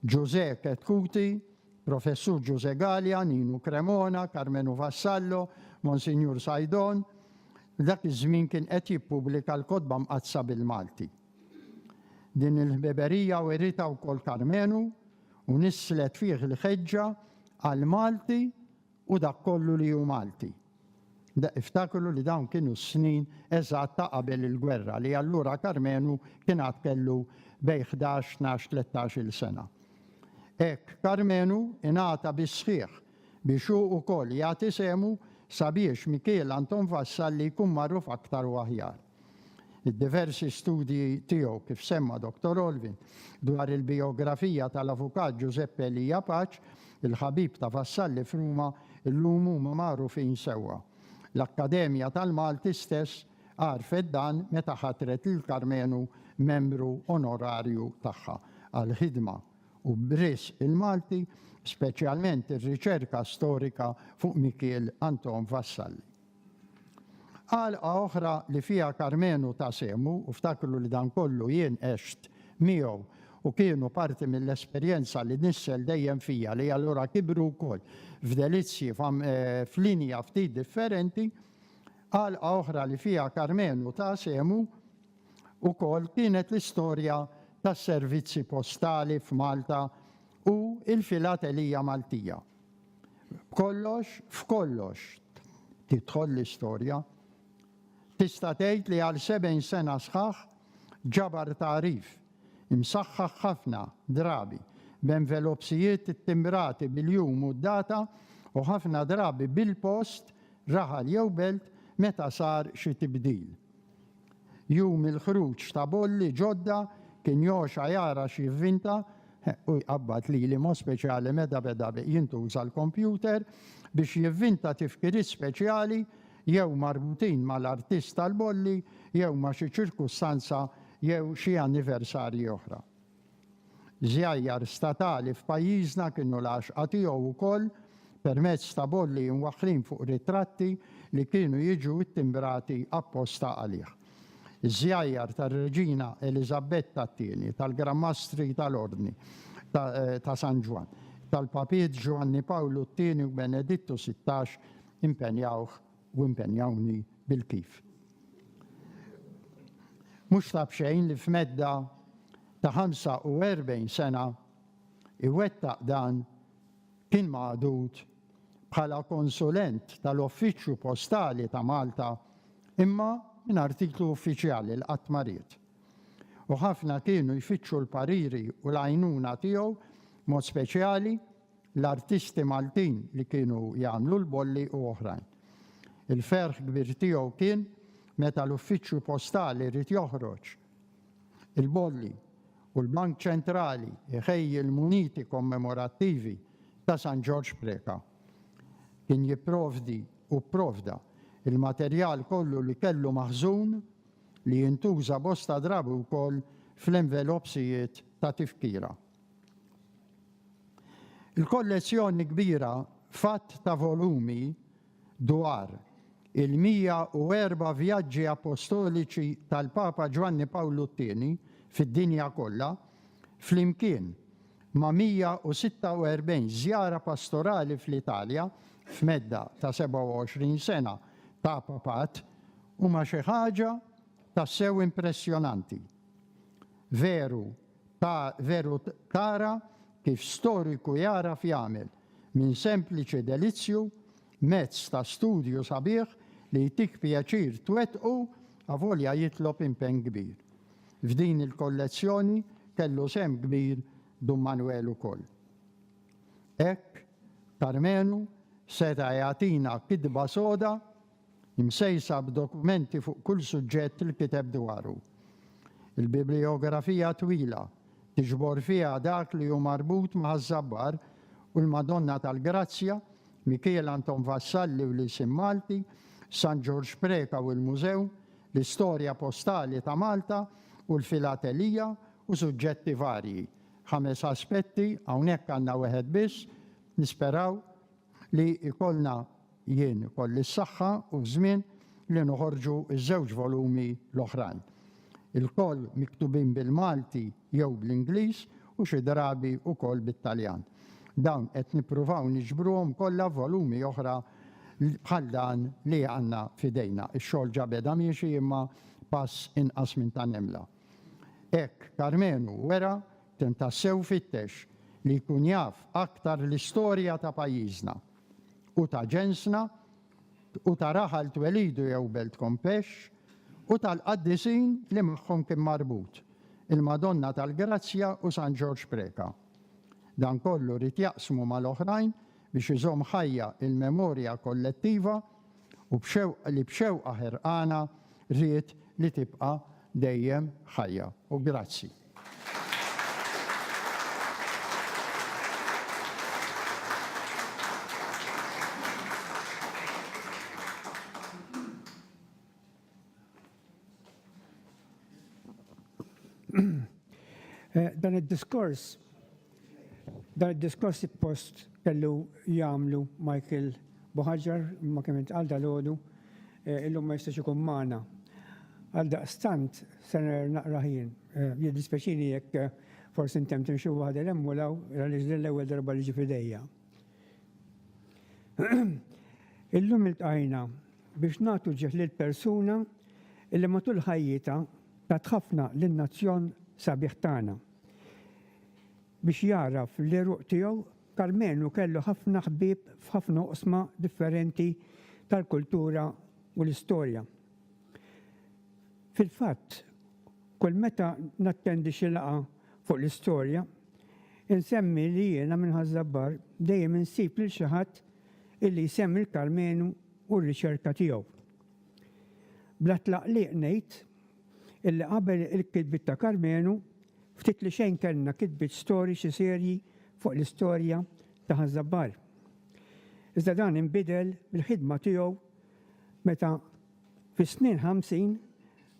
Ġużè Chetcuti, Professur Ġużè Galea, Ninu Cremona, Karmenu Vassallo, Monsinjur Saidon, dak iż-żmien kien qed jippubblika l-Kotba Mqaddsa bil-Malti. Din il-ħbiberija writha wkoll Karmenu u nisslet fih l-ħeġġa għall-Malti u dak kollu li hu Malti. Iftakru li dawn kienu s-snin eżatt ta' qabel il-gwerra li allura Karmenu kien għad kellu bejn ħdax, tnax, tlettax-il sena. Hekk Karmenu ingħata bis-sħiħ biex hu wkoll jagħti sehmu sabiex Mikiel Anton Vassalli jkun magħruf aktar u aħjar. Id-diversi studji tiegħu, kif semma Dottor Olvin, dwar il-bijografija tal-Avukat Ġużeppi Elija Paċ, il-ħabib ta' Vassalli f'Ruma, illum huma magħrufin sewwa. L-Akkademja tal-Malti stess għarfet dan meta ħatret lil Karmenu membru onorarju tagħha għall-ħidma u b'risq il-Malti, speċjalment ir-riċerka storika fuq Mikiel Anton Vassalli. Għalqa oħra li fiha Karmenu ta sehmu u ftakru li dan kollu jien għext miegħu u kienu parti mill-esperjenza li nissel dejjem fija li allura kibru wkoll f'delizzji f'linja ftit differenti, għalqa oħra li fiha Karmenu ta sehmu wkoll kienet l-istorja tas-servizzi postali f'Malta u l-filatelija Maltija. B'kollox f'kollox, tidħol l-istorja. Tista' tgħid li għal sebgħin sena sħaħ ġabar tagħrif, imsaħħaħ ħafna drabi b'envelopsijiet ttimbrati bil-jum u d-data u ħafna drabi bil-post, raħal jew belt, meta sar xi tibdil. Jum il-ħruġ ta' bolli ġodda kien Joxha jara x'jivvinta u jqabbad lili mod speċjali meta beda jintuża l-kompjuter biex jivvinta tifkiriet speċjali jew marbutin mal-artist tal-bolli jew ma' xi ċirkustanza jew xi anniversarji oħra. Żjajjar statali f'pajjiżna kienu l-għaxqa tiegħu wkoll permezz ta' bolli imwaħħlin fuq ritratti li kienu jiġu ttimbrati apposta għalih. Iż-żjajjar tar-Reġina Eliżabetta t-Tieni, tal-Gran Mastri tal-Ordni ta' San Ġwann, tal-Papiet Ġwanni Pawlu t-Tieni u Benedittu Sittax impenjawh u impenjawni bil-kif. Mhux ta' b'xejn li f'medda ta' 45 sena iwettaq dan kien magħdud bħala konsulent tal-Uffiċċju Postali ta' Malta imma mingħajr titlu uffiċjali li qatt ma ried. U ħafna kienu jfittxu l-pariri u l-għajnuna tiegħu b'mod speċjali l-artisti Maltin li kienu jagħmlu l-bolli u oħrajn. Il-ferħ kbir tiegħu kien meta l-uffiċċju postali ried joħroġ il-bolli u l-Bank Ċentrali jħejji l-muniti kommemorattivi ta' San Ġorġ Preca. Kien jipprovdi u pprovda il-materjal kollu li kellu maħżun li jintuża bosta drabi wkoll fl-envelopsijiet ta' tifkira. Il-kollezzjoni kbira f'għadd ta' volumi dwar il-104 vjaġġi appostoliċi tal-Papa Ġwanni Pawlu t-Tieni fid-dinja kollha, flimkien ma' 146 żjara pastorali fl-Italja f'medda ta' 27 sena ta' Papat, huma xi ħaġa tassew impressjonanti. Veru, Ta' veru tara kif storiku jagħraf jagħmel, minn sempliċi delizzju, mezz ta' studju sabiħ li jtik pjaċir twettqu avolja jitlob impenn kbir. F'din il-kollezzjoni kellu sehem kbir Dun Manwel ukoll. Hekk, Karmenu seta' jagħtina kitba soda msejsa b'dokumenti fuq kull suġġett li kiteb dwaru. Il-bibliografija twila tiġbor fiha dak li hu marbut ma' Ħaż-Żabbar u l-Madonna tal-Grazzja, Mikiel Anton Vassalli u l-Ilsien Malti, San Ġorġ Preca u l-Mużew, l-Istorja Postali ta' Malta u l-Filatelija u suġġetti varji. Ħames aspetti, hawnhekk għandna weħed biss, nisperaw, li jkollna jien ikolli s-saħħa u ż-żmien li noħorġu ż-żewġ volumi l-oħrajn. Ilkoll miktubin bil-Malti jew bl-Ingliż u xi drabi wkoll bit-Taljan. Dawn qed nippruvaw niġbruhom kollha f'volumi oħra bħal dan li għandna f'idejna. Ix-xogħol ġa beda miexi imma pass inqas minn ta' nemla. Hekk Karmenu wera Kien tassew fittex li jkun jaf aktar l-istorja ta' pajjiżna u ta' ġensna u ta' raħal twelidu jew belt Kompex u tal-qaddisin li magħhom kien marbut, il-Madonna tal-Grazzja u San Ġorġ Preca. Dan kollu ried jaqsmu mal-oħrajn biex iżomm ħajja l-memorja kollettiva u b'xewqa li b'xewqa ħerqana ried li tibqa' dejjem ħajja. U grazzi. Eh, dan id-diskors dan id-diskors post kellu jagħmlu Michael Boħaġar ma kemm intqal dal-għodu eh, illum ma jistax ikun magħna. Għal daqstant se naqra ħin. Eh, Jiddispeċini jekk forsi intem timxu waħda lemmu law għaliex l-ewwel darba li ġi fidejja. Illum il-tajna biex nagħtu ġieħ lil persuna li matul ħajjitha tat ħafna lin-nazzjon sabiħ tagħna. Biex jagħraf l-għeruq tiegħu, Karmenu kellu ħafna ħbieb f'ħafna oqsma differenti tal-kultura u l-istorja. Fil-fatt, kull meta nattendi xi laqgħa fuq l-istorja, insemmi li jiena minn Ħaż-Żabbar dejjem insib lil xi ħadd illi jsemmi l-Karmenu u r-riċerka tiegħu. Bla tlaqliq ngħid illi qabel il-kitbiet ta' Karmenu, ftit li xejn kellna kitbiet storiċi serji fuq l-istorja ta' Ħaż-Żabbar. Iżda dan inbidel bil-ħidma tiegħu meta fis-snin ħamsin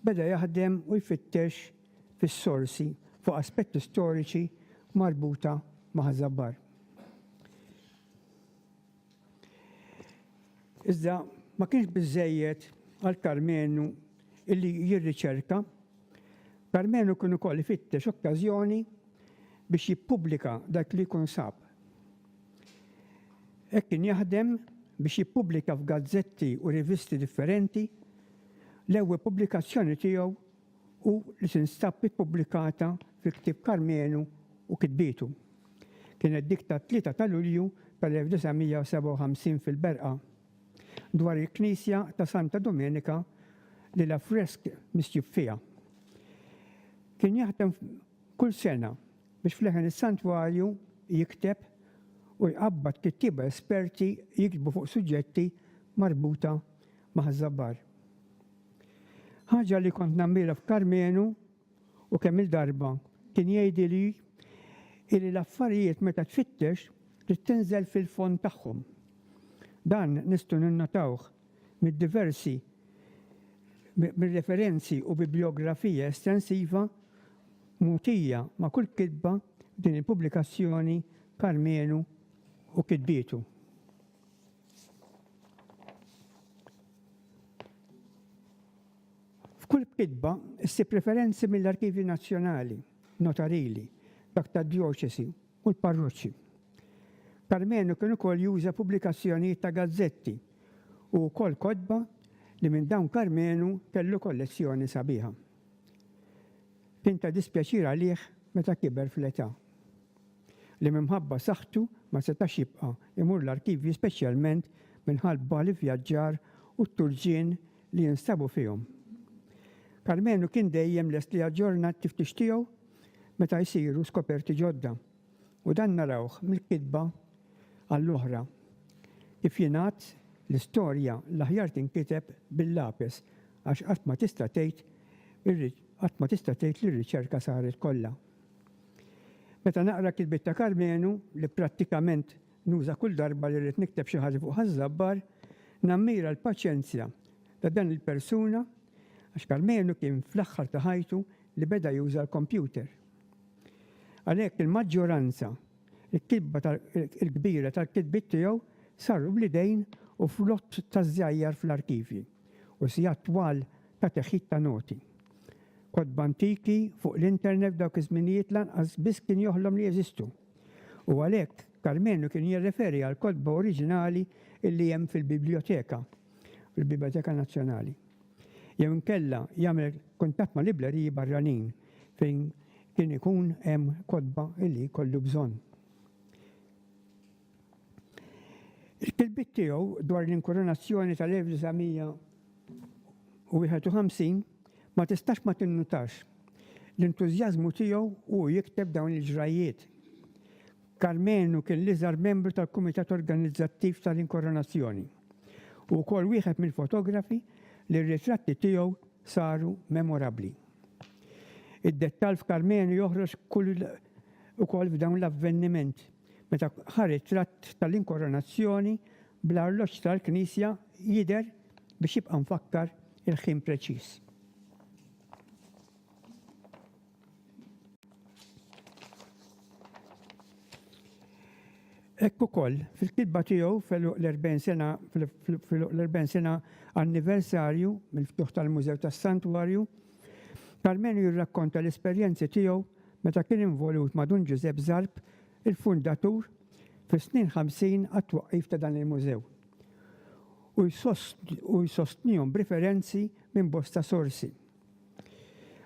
beda jaħdem u jfittex fis-sorsi fuq aspetti storiċi marbuta ma' Ħaż-Żabbar. Iżda ma kienx biżżejjed għal Karmenu illi jirriċerka, Karmenu kien ukoll ifittex okkażjoni biex jippubblika dak li jkun sab. Hekk kien jaħdem biex jippubblika f'gazzetti u rivisti differenti, l-ewwe pubblikazzjoni tiegħu u li tinstab ippubblikata fi ktieb Karmenu u kitbietu. Kienet dik tat-Tlieta ta' Lulju tal-1957 fil-Berqa, dwar il-Knisja ta' Santa Domenica li l-affresk misjub fiha. Kien jaħdem kull sena biex f'leħen is-Santwarju jikteb u jqabbad kittieba esperti jiktbu fuq suġġetti marbuta ma' Ħaż-Żabbar. Ħaġa li kont nammira f'Karmenu u kemm-il darba kien jgħidili illi l-affarijiet meta tfittex trid tinżel fil-fond tagħhom. Dan nistgħu ninnotawh mid-diversi mir-referenzi u bibliografija estensiva mogħtija ma' kull kitba f'din il-pubblikazzjoni Karmenu u kitbietu. F'kull kitba ssib referenzi mill-arkivji nazzjonali, notarili, dak tad-djoċesi u l-parroċċi. Karmenu kien ukoll juża pubblikazzjonijiet ta' gazzetti u wkoll kotba li minn dawn Karmenu kellu kollezzjoni sabiħa. Kien ta' dispjaċir għalih meta kiber fl-età. li minħabba saħħtu ma setax jibqa' jmur l-arkivji speċjalment minħalbba l-ivvjaġġar u t-turġien li jinstabu fihom. Karmenu kien dejjem lest li jaġġorna t-tiftix tiegħu meta jsiru skoperti ġodda, u dan narawh mill-kitba għall-oħra. Kif jingħad, l-istorja l-aħjar tinkiteb bil-lapes għax qatt ma tista' tgħid qatt ma tista' tgħid li r-riċerka saret kollha. Meta naqra kitbiet ta' Karmenu, li prattikament nuża kull darba li rrid nikteb xi ħaġa fuq Ħaż-Żabbar, nammira l-paċenzja ta' dan il-persuna għax Karmenu kien fl-aħħar ta' ħajtu li beda juża l-kompjuter. Għalhekk il-maġġoranza l-kitba l-kbira tal-kitbiet tiegħu saru bl-idejn u f'lott ta' żjajjar fl-arkivji u sigħat twal ta' teħid ta' noti. Kotba antiki fuq l-internet f'dawk iż-żminijiet lanqas biss kien joħlom li jeżistu. U għalhekk, Karmenu kien jirreferi għall-kotba oriġinali li hemm fil-bibljoteka, fil-Bibljoteka Nazzjonali. Jew inkella jagħmel kuntatt ma' librerii barranin fejn kien ikun hemm kotba li jkollu bżonn. Il-kilbiet tiegħu dwar l-inkurunazzjoni tal-1951 ma tistax ma tinnutax l-entużjażmu tiegħu u hu jikteb dawn il-ġrajjiet. Karmenu kien l-iżgħar membru tal-kumitat organizzattiv tal-inkurunazzjoni u wkoll wieħed mill-fotografi li r-ritratti tiegħu saru memorabbli. Id-dettall f'Karmenu joħroġ ukoll f'dawn l-avveniment Meta ħa ritratt tal-Inkoronazzjoni bl-arloġġ tal-knisja jidher biex jibqa' mfakkar il-ħin preċiż. Hekk ukoll, fil-kitba tiegħu fil-luq l-40 sena fil-luq l-40 sena anniversarju mill-ftuħ tal-Mużew tas-Santwarju, Karmenu jirrakkonta l-esperjenzi tiegħu meta kien involut ma' Dun Ġużepp Zarb, il-fundatur, fis-snin ħamsin għat-twaqqif ta' dan il-mużew, u jsostnihom b'riferenzi minn bosta sorsi.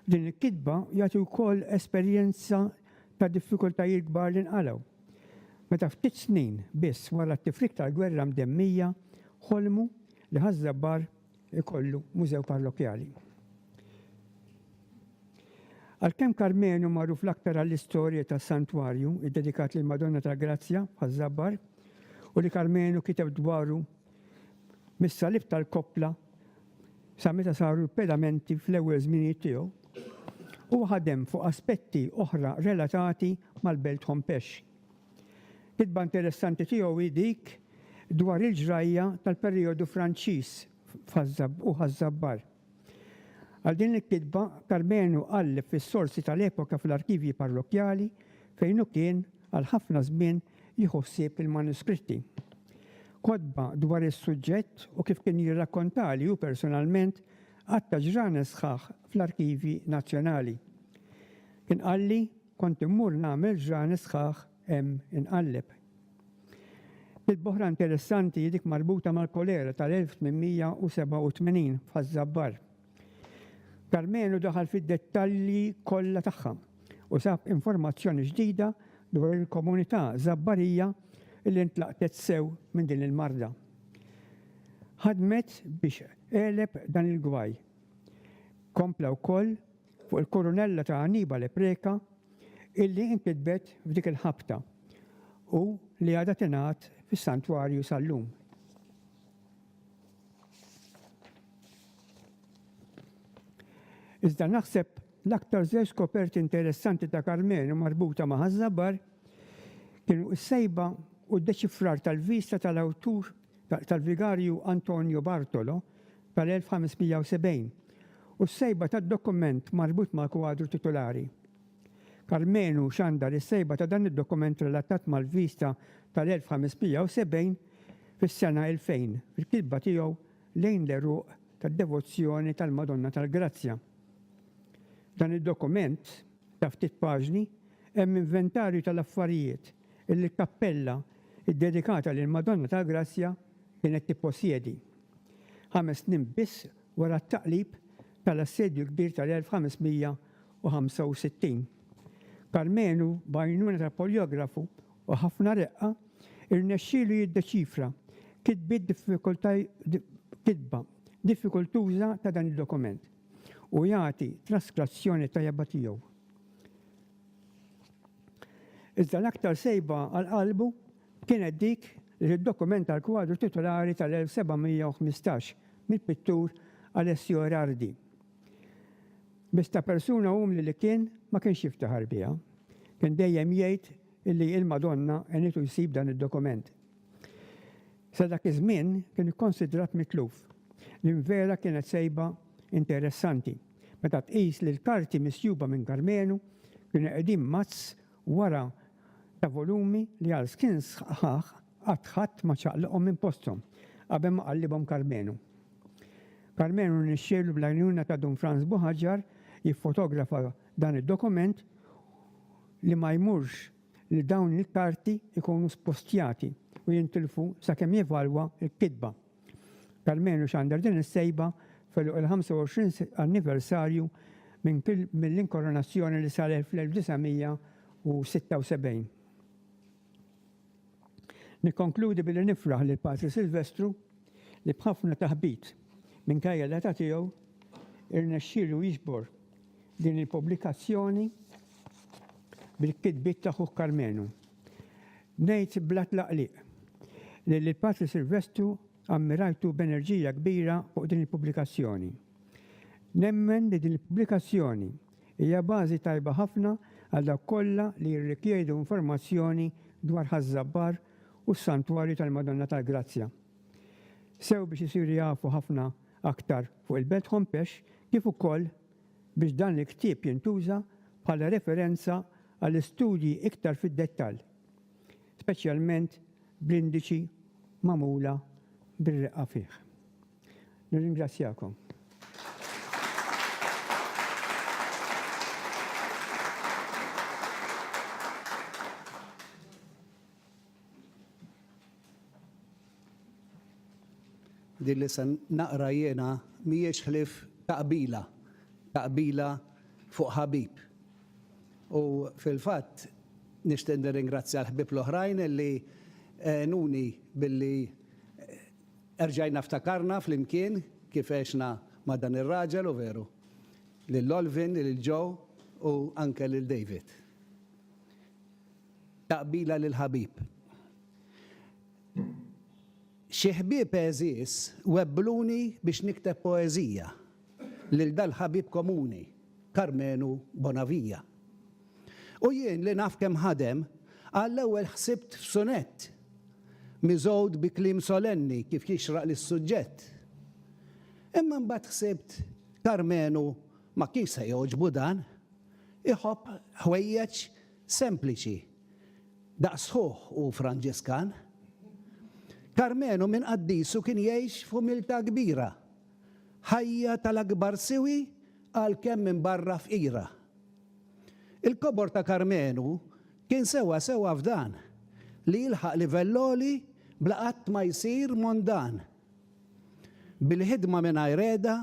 F'din il-kitba jagħti wkoll esperjenza ta' diffikultajiet kbar li nqalgħu, meta ftit snin biss wara t-tifrik tal-gwerra mdemmija ħolmu li Ħaż-Żabbar ikollu mużew parrokkjali. Għalkemm Karmenu magħruf l-aktar għall-istorja ta' santwarju iddedikat lil Madonna tal-Grazzja ħaż-Żabbar u li Karmenu kiteb dwaru mis-salib tal-koppla sa meta saru l-pedamenti fl-ewwel żminijiet tiegħu, huwa ħadem fuq aspetti oħra relatati mal-belt Hompesh. Kitba interessanti tiegħu hi dik dwar il-ġrajja tal-perijodu Franċiż u Ħaż-Żabbar. Għal din il-kitba, Karmenu qalleb fis-sorsi tal-epoka fl-arkivji parrokkjali fejn hu kien għal ħafna żmien jieħu ħsieb il-manuskritti. Kotba dwar is-suġġett u kif kien jirrakkontali hu personalment għadd ta' ġranet sħaħ fl-Arkivji Nazzjonali. Kien qalli, Kont immur nagħmel ġranet sħaħ hemm inqalleb. Kitba oħra interessanti hi dik marbuta mal-kolera tal-1887 f'Ħaż-Żabbar. Karmenu daħal fid-dettalji kollha tagħha u sab informazzjoni ġdida dwar il-komunità Żabbarija li ntlaqtet sew minn din il-marda. Ħadmet biex għeleb dan il-gwaj. Kompla wkoll fuq il-kurunella ta' Annibale Preca illi inkitbet f'dik il-ħabta u li għadha tingħad fis-Santwarju sal-lum. Iżda naħseb l-aktar żewġ skoperti interessanti ta' Karmenu marbuta ma' Ħaż-Żabar kienu s-sejba u d-deċifrar tal-vista tal-awtur tal-Vigarju Antonio Bartolo tal-1570 u s-sejba tad-dokument marbut mal-kwadru titulari. Karmenu xandar is-sejba ta' dan id-dokument relatat mal-vista tal-1570 fis-sena 2000 fil-kitba tiegħu Lejn l-Għeruq tad-Devozzjoni tal-Madonna tal-Grazzja. F'dan id-dokument, ta' ftit paġni, hemm inventarju tal-affarijiet li l-kappella ddedikata lill-Madonna tal-Grazzja kienet tipposjedi. Ħames snin biss wara t-taqlib tal-Assedju l-Kbir tal-1565. Karmenu, b'għajnuna ta' poljografu u ħafna reqqa, irnexxielu jiddeċifra kitbiet kitba diffikultuża ta' dan id-dokument u jagħti traskrazjoni tajba tiegħu. Iżda l-aktar sejba għal qalbu kienet dik li tiddokumenta l-kwadru titolari tal-1715 mill-pittur Alessio Erardi. Biss ta' persuna umli li kien, ma kienx jiftaħar biha. Kien dejjem jgħid illi il-Madonna għenitu jsib dan id-dokument. Sa dak iż-żmien kien ikkonsidrat mitluf. L-invera kienet sejba interessanti, meta tqis li l-karti misjuba minn Karmenu kienu qegħdin mazz wara ta' volumi li għal snin sħaħ qatt ħadd ma ċaqlaqhom minn posthom qabel ma qallibhom Karmenu. Karmenu rnexxielu bl-għajnuna ta' Dun Frans Buħaġġar jiffotografa dan id-dokument li ma jmurx li dawn il-karti jkunu spostjati u jintilfu sakemm jevalwa l-kitba. Almenu xandar din is-sejba f'għeluq il-25 anniversarju mill-inkoronazzjoni li saret fl-1976. Nikkonkludi billi nifraħ lil Patri Silvestru li b'ħafna taħbit, minkejja l-età tiegħu, irnexxielu jiġbor din il-pubblikazzjoni bil-kitbiet ta' ħuh Karmenu. Ngħid bla tlaqliq li lil Patri Silvestru ammirajtu b'enerġija kbira fuq din il-pubblikazzjoni. Nemmen li din il-pubblikazzjoni hija bażi tajba ħafna għal dawk kollha li jirrikjedu informazzjoni dwar Ħaż-Żabbar u s-Santwarju tal-Madonna tal-Grazzja. Sew biex isiru jafu ħafna aktar fuq il-Belt Hompesch kif ukoll biex dan il-ktieb jintuża bħala referenza għal studji iktar fid-dettall, speċjalment bl-indiċi magħmula bir-reqqa fih. Nirringrazzjakom. Din li se naqra jiena mhijiex ħlief ta' qbila, ta' qbila fuq ħabib. U fil-fatt nixtieq nirringrazzja l-ħbieb l-oħrajn li għenuni billi erġajna ftakarna flimkien kif għexna ma' dan ir-raġel u veru, lil Olvin, lil Joe u anke lil David. Ta' qbila lil ħabib. Xi ħbieb għeżież webbluni biex nikteb poeżija lil dal-ħabib komuni, Karmenu Bonavija. U jien li naf kemm ħadem, għall-ewwel ħsibt f'sunett, miżgħud bi kliem solenni kif jixraq lis-suġġett. Imma mbagħad ħsibt Karmenu ma kienx se jogħġbu dan, iħobb ħwejjeġ sempliċi. Daqs ħuh hu Franġiskan. Karmenu minn qaddisu kien jgħix f'umiltà kbira, ħajja tal-akbar siwi għalkemm minn barra fqira. Il-kobor ta' Karmenu kien sewwa sewwa f'dan, li jilħaq livell għoli bla qatt ma jsir mondan. Bil-ħidma mingħajr qegħda,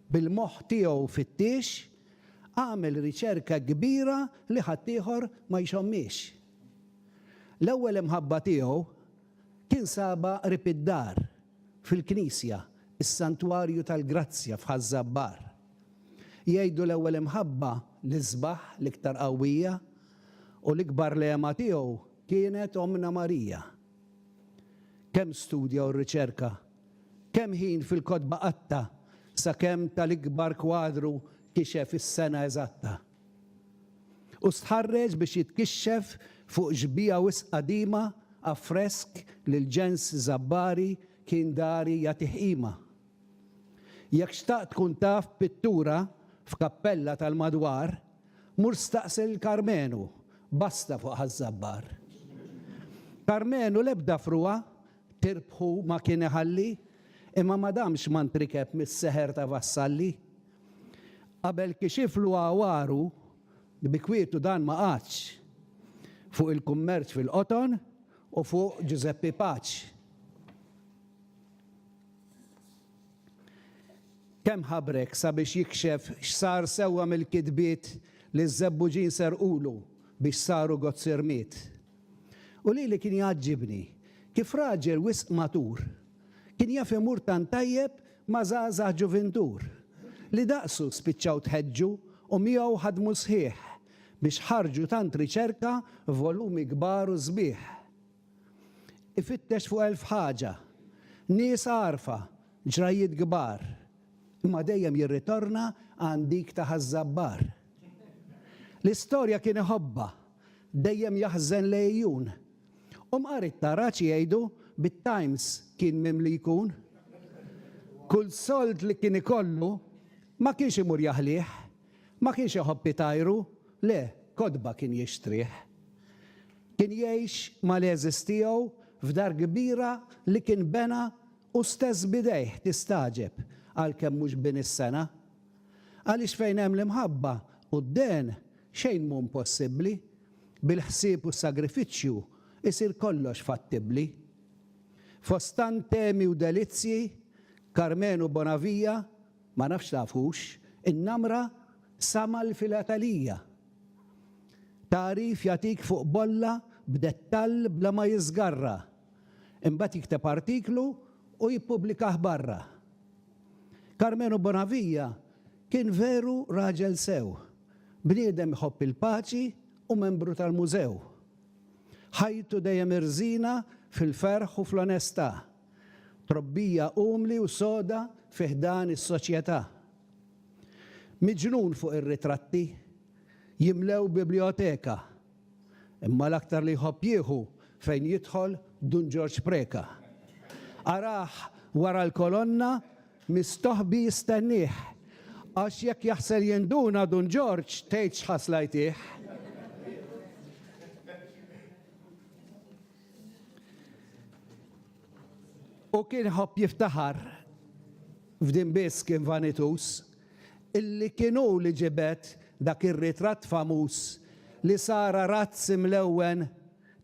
Bil-moħħ tiegħu fittiex, għamel riċerka kbira li ħaddieħor ma jxommhiex. L-ewwel imħabba tiegħu kien sabha qrib id-dar, fil-knisja, is-Santwarju tal-Grazzja f'Ħaż-Żabbar. Jgħidu l-ewwel imħabba l-isbaħ, l-iktar qawwija, u l-ikbar lehma tiegħu kienet Ommna Marija. Kemm studja u rriċerka Kemm ħin fil-kotba qatta' sakemm tal-ikbar kwadru kixef is-sena eżatta. U stħarreġ biex jitkixxef fuq xbieha wisq qadima affresk li l-ġens żabbari kien dari jagħtih qima. Jekk xtaqt tkun taf b'pittura f'kappella tal-madwar, mur staqsi lil Karmenu, basta fuq Ħaż-Żabbar. Karmenu l-ebda frugħa Tirbħu ma kien iħalli, imma ma damx ma ntrikeb mis-seħer ta' vassalli. Qabel kixiflu għawaru, bi kwietu dan ma qagħadx, fuq il-kummerċ fil-qoton u fuq Ġużeppi Paċ. Kemm ħabrek sabiex jikxef x'sar sewwa mill-kitbiet li ż-żebbuġin serqulu biex saru gozzirmiet. U lili kien jgħaġġibni kif raġel wisq matur kien jaf imur tant tajjeb ma' żgħażagħ ġuvintur li daqsu spiċċaw tħeġġu u miegħu ħadmu s-sħiħ biex ħarġu tant riċerka f'volumi kbar u sbieħ. Ifittex fuq elf ħaġa, nies għarfa, ġrajjiet kbar, imma dejjem jirritorna għand dik ta' Ħaż-Żabbar. L-istorja kien iħobbha dejjem jaħżen l-għejjun. U mqar it-tara x'jgħidu, bit-Times kien mimli jkun. Kull sold li kien ikollu, ma kienx imur jaħlih, ma kienx iħobb itajru, le, kotba kien jixtrih. Kien jgħix mal-għeżież tiegħu f'dar kbira li kien bena hu stess b'idejh, tistagħġeb, għalkemm mhux bini s-sengħa, Għaliex fejn hemm l-imħabba u d-dehn, xejn mhu mpossibbli. Bil-ħsieb u s-sagrifiċċju jsir kollox fattibbli. Fost tant temi u delizzji, Karmenu Bonavija, ma nafx tafux, in-namra sa mal-filatalija. Tagħrif jagħtik fuq bolla b'dettall bla ma jiżgarra. Imbagħad jikteb artiklu u jippubblikah barra. Karmenu Bonavija kien veru raġel sew, bniedem jħobb il-paċi u membru tal-Mużew. Ħajtu dejjem irżina fil-ferħ u fl-onestà, trobbija umli u soda fi ħdan is-soċjetà. Miġnun fuq ir-ritratti, jimlew biblioteka Imma l-aktar li jħobb jieħu fejn jidħol Dun Ġorġ Preca. Arah wara l-kolonna mistoħbi jistennieh, għax jekk jaħsel jinduna Dun Ġorġ tgħid x'ħasla jtih. U kien iħobb jiftaħar f'din biss kien vanituż. illi kien hu li ġibed dak ir-ritratt famuż li sar arazz imlewwen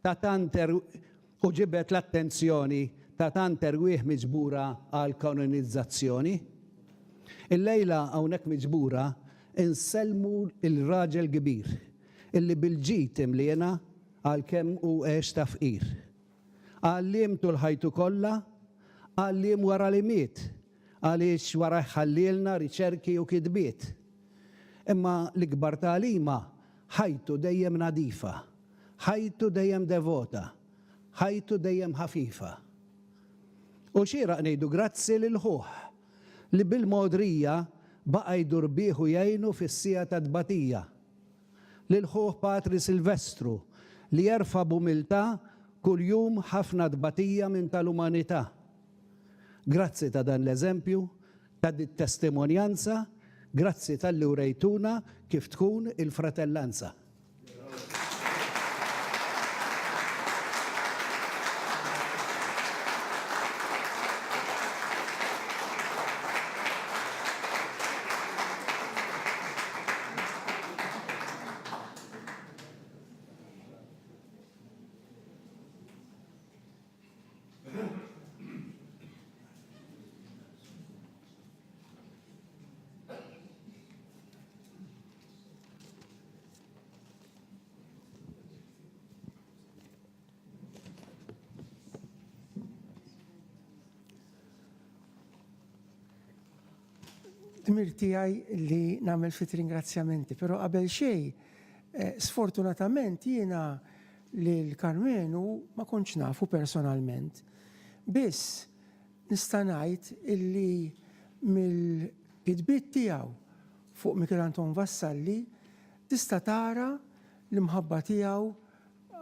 ta' tant u ġibed l-attenzjoni ta' tant erwieħ miġbura għall-kanonizzazzjoni. Illejla hawnhekk miġbura insellmu l-raġel kbir illi bil-ġid imliena għalkemm hu għex ta' fqir. Għalliem tul ħajtu kollha, għalliem wara li miet, għaliex warajh ħallielna riċerki u kitbiet, imma l-ikbar tagħlima, ħajtu dejjem nadifa, ħajtu dejjem devota, ħajtu dejjem ħafifa. U xieraq ngħidu grazzi lil ħuh li bil-mogħdrija baqa' jdur bih u jgħinu fis-siegħa tat-tbatija, lil ħuh Patri Silvestru li jerfa' b'umiltà kuljum ħafna tbatija minn tal-umanità, Grazzi ta' dan l-eżempju, ta' dit-testimonjanza, grazzi talli wrejtuna kif tkun il-fratellanza. Dmir tiegħi li nagħmel ftit ringrazzjamenti, però qabel xejn eh, sfortunatament jiena Lil Karmenu ma kontx nafu personalment, biss nista' ngħid illi mill-kitbiet tiegħu fuq Michel Anton Vassalli tista' tara l-imħabba tiegħu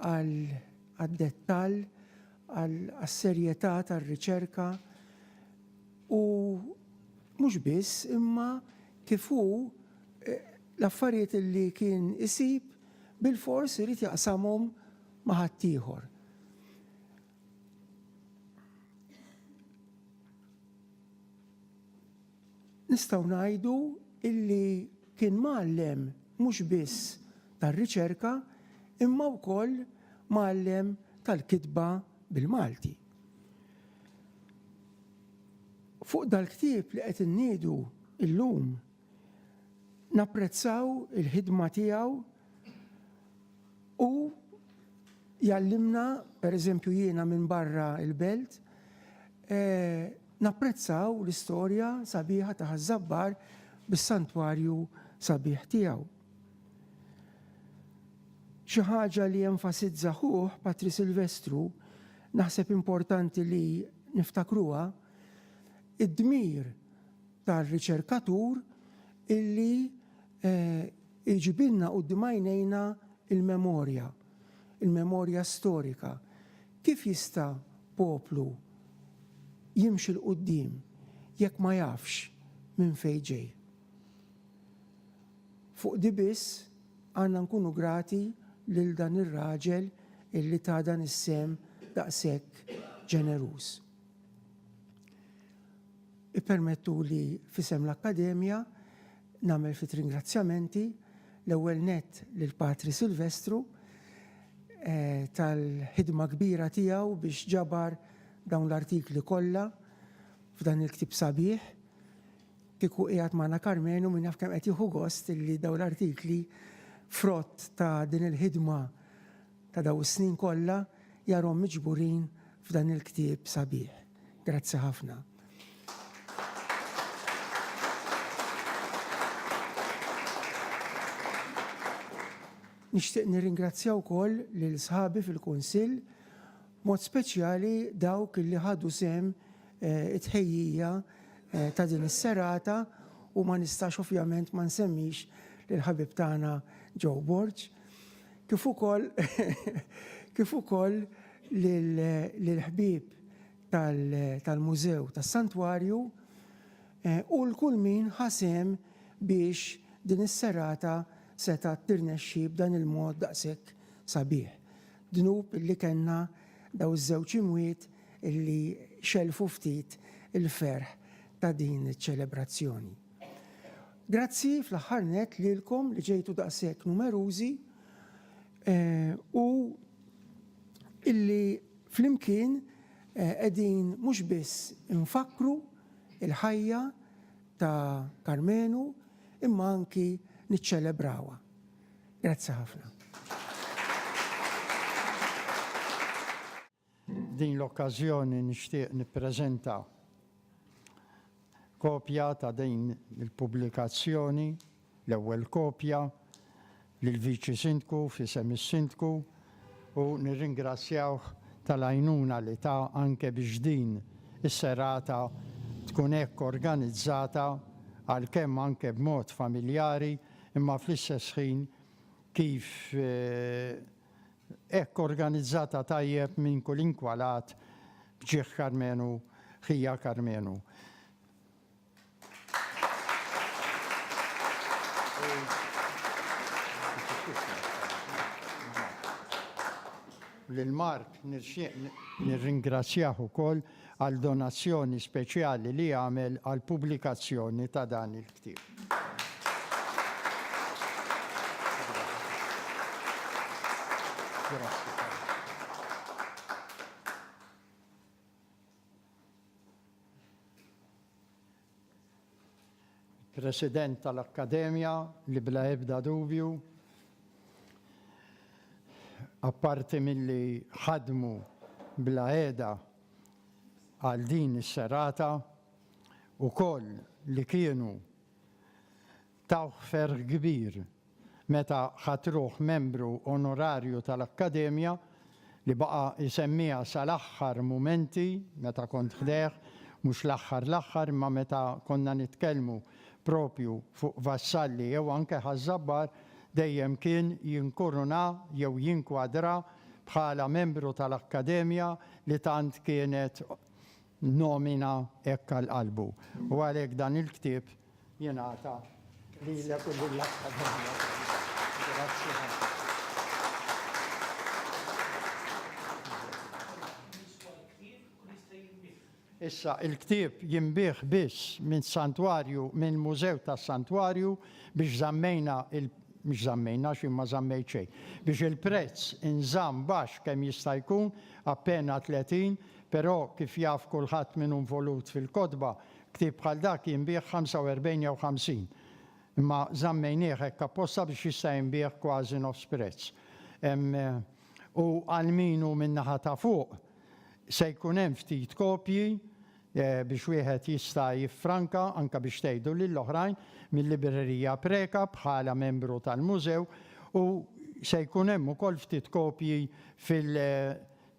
għad-dettall, għas-serjetà tar-riċerka u mhux biss imma kif hu l-affarijiet illi kien isib bilfors irid jaqsamhom ma' ħaddieħor. Nistgħu ngħidu illi kien mgħallem mhux biss tar-riċerka imma wkoll mgħallem tal-kitba bil-Malti. Fuq dal-ktieb li qed inniedu llum Napprezzaw il-ħidma tiegħu u jgħallimna, pereżempju jiena minn barra l-belt, napprezzaw l-istorja sabiħa ta' Ħaż-Żabbar bis-santwarju sabiħ tiegħu. Xi ħaġa li enfasizza ħuh Patri Silvestru, naħseb importanti li niftakruha, id-dmir tar-riċerkatur illi jġibilna quddiem għajnejna l-memorja, il-memorja storika. Kif jista' poplu jimxi 'l quddiem jekk ma jafx minn fejn ġej? Fuq di biss għandna nkunu grati lil dan ir-raġel illi ta dan is-sehem daqshekk ġeneruż. Ippermettuli f'isem l-Akkademja nagħmel ftit ringrazzjamenti, l-ewwel nett lil Patri Silvestru tal-ħidma kbira tiegħu biex ġabar dawn l-artikli kollha f'dan il-ktieb sabiħ. Kieku qiegħed magħna Karmenu min jaf kemm qed jieħu gost li dawn l-artikli frott ta' din il-ħidma ta' dawn is-snin kollha jarhom miġburin f'dan il-ktieb sabiħ. Grazzi ħafna. Nixtieq nirringrazzja wkoll lil sħabi fil-Kunsill, b'mod speċjali dawk li ħadu sehem it-tħejjija ta' din is-serata u ma nistax ovvjament ma nsemmix lill-ħabib tagħna Joe Borg, kif ukoll kif ukoll lill-ħbieb tal-Mużew tas-Santwarju u 'l kull min ħa sehem biex din is-serata setgħet tirnexxi b'dan il-mod daqshekk sabiħ. Dnub li kellna dawn iż-żewġ imwiet li xellfu ftit il-ferħ ta' din iċ-ċelebrazzjoni. Grazzi fl-aħħar nett lilkom li ġejtu daqshekk numerużi u illi flimkien qegħdin mhux biss infakkru l-ħajja ta' Karmenu imma anki niċċelebrawha. Grazzi ħafna. F'din l-okkażjoni nixtieq nippreżenta kopja ta' din il-pubblikazzjoni. l-ewwel kopja lill-Viċi Sindku f'isem is-Sindku u nirringrazzjawh tal-għajnuna li ta anke biex din is-serata tkun hekk organizzata għalkemm anke b'mod familjari imma fl-istess ħin kif hekk organizzata tajjeb minn kulinkwa lat b'ġieħ Karmenu ħija Karmenu. Lil Mark nixtieq nirringrazzjah ukoll għal donazzjoni speċjali li għamel għall-pubblikazzjoni ta' dan il-ktieb. Grazzi. President tal-Akkademja li bla ebda dubju apparti milli ħadmu bla għeda għal din is-serata, ukoll li kienu Tawh ferħ kbir meta ħadt ruħ membru onorarju tal-Akkademja, li baqa' jsemmiha sal-aħħar mumenti meta kont ħdejh, mhux l-aħħar l-aħħar imma meta konna nitkellmu proprju fuq Vassalli jew anke Ħaż-Żabbar, dejjem kien jinkuruna jew jinkwadra bħala membru tal-Akkademja li tant kienet nomina hekk għal qalbu. U għalhekk dan il-ktieb jingħata lilek u lill-Akkademja Pawlu. Grazzi ħafna. Issa il-ktieb jinbigħ biss minn santwarju minn mużew tas-santwarju biex żammejna il mhux żammejna xi ma żammejt xejn. Biex il-prezz inżamm baxx kemm jista' jkun appena 30, però kif jaf kulħadd min hu involut fil-kotba, Ktieb bħal dak jinbiegħ 45 jew 50, imma żammejnieh hekk apposta biex jista' jinbiegħ kważi nofs prezz. U għal min hu min-naħa ta' fuq, se jkun hemm ftit kopji biex wieħed jista' jiffranka, anke biex tgħidu lil oħrajn, mil-Librerija Preca bħala membru tal-Mużew, u se jkun hemm ukoll ftit kopji fil,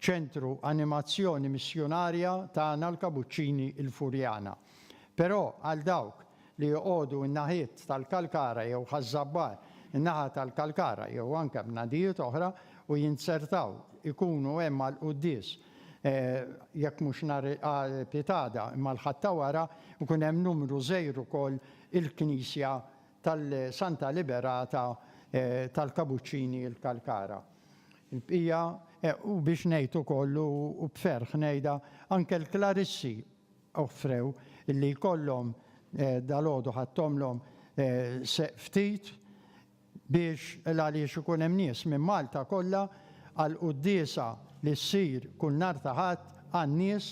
ċentru animazzjoni missjunarja tagħna l-Kabuċċini il-Furjana. Però għal dawk li joqogħdu n-naħiet tal-Kalkara jew Ħaż-Żabbar, in-naħa tal-Kalkara jew anke bnadijiet oħra u jinzertaw ikunu hemm għall-quddies jekk mhux nhar pitada imma l-Ħadd ta' wara, ikun hemm numru żgħir ukoll il-knisja tal-Santa Liberata tal-Kabuċċini il-Kalkara. Il-bqija, u biex ngħid ukoll u b'ferħ ngħidha, anke l-Klarissi offrew li jkollhom, dalgħodu ħadthomlhom ftit biex għaliex ikun hemm nies minn Malta kollha għall-quddiesa li ssir kull nhar ta' Ħadd għan-nies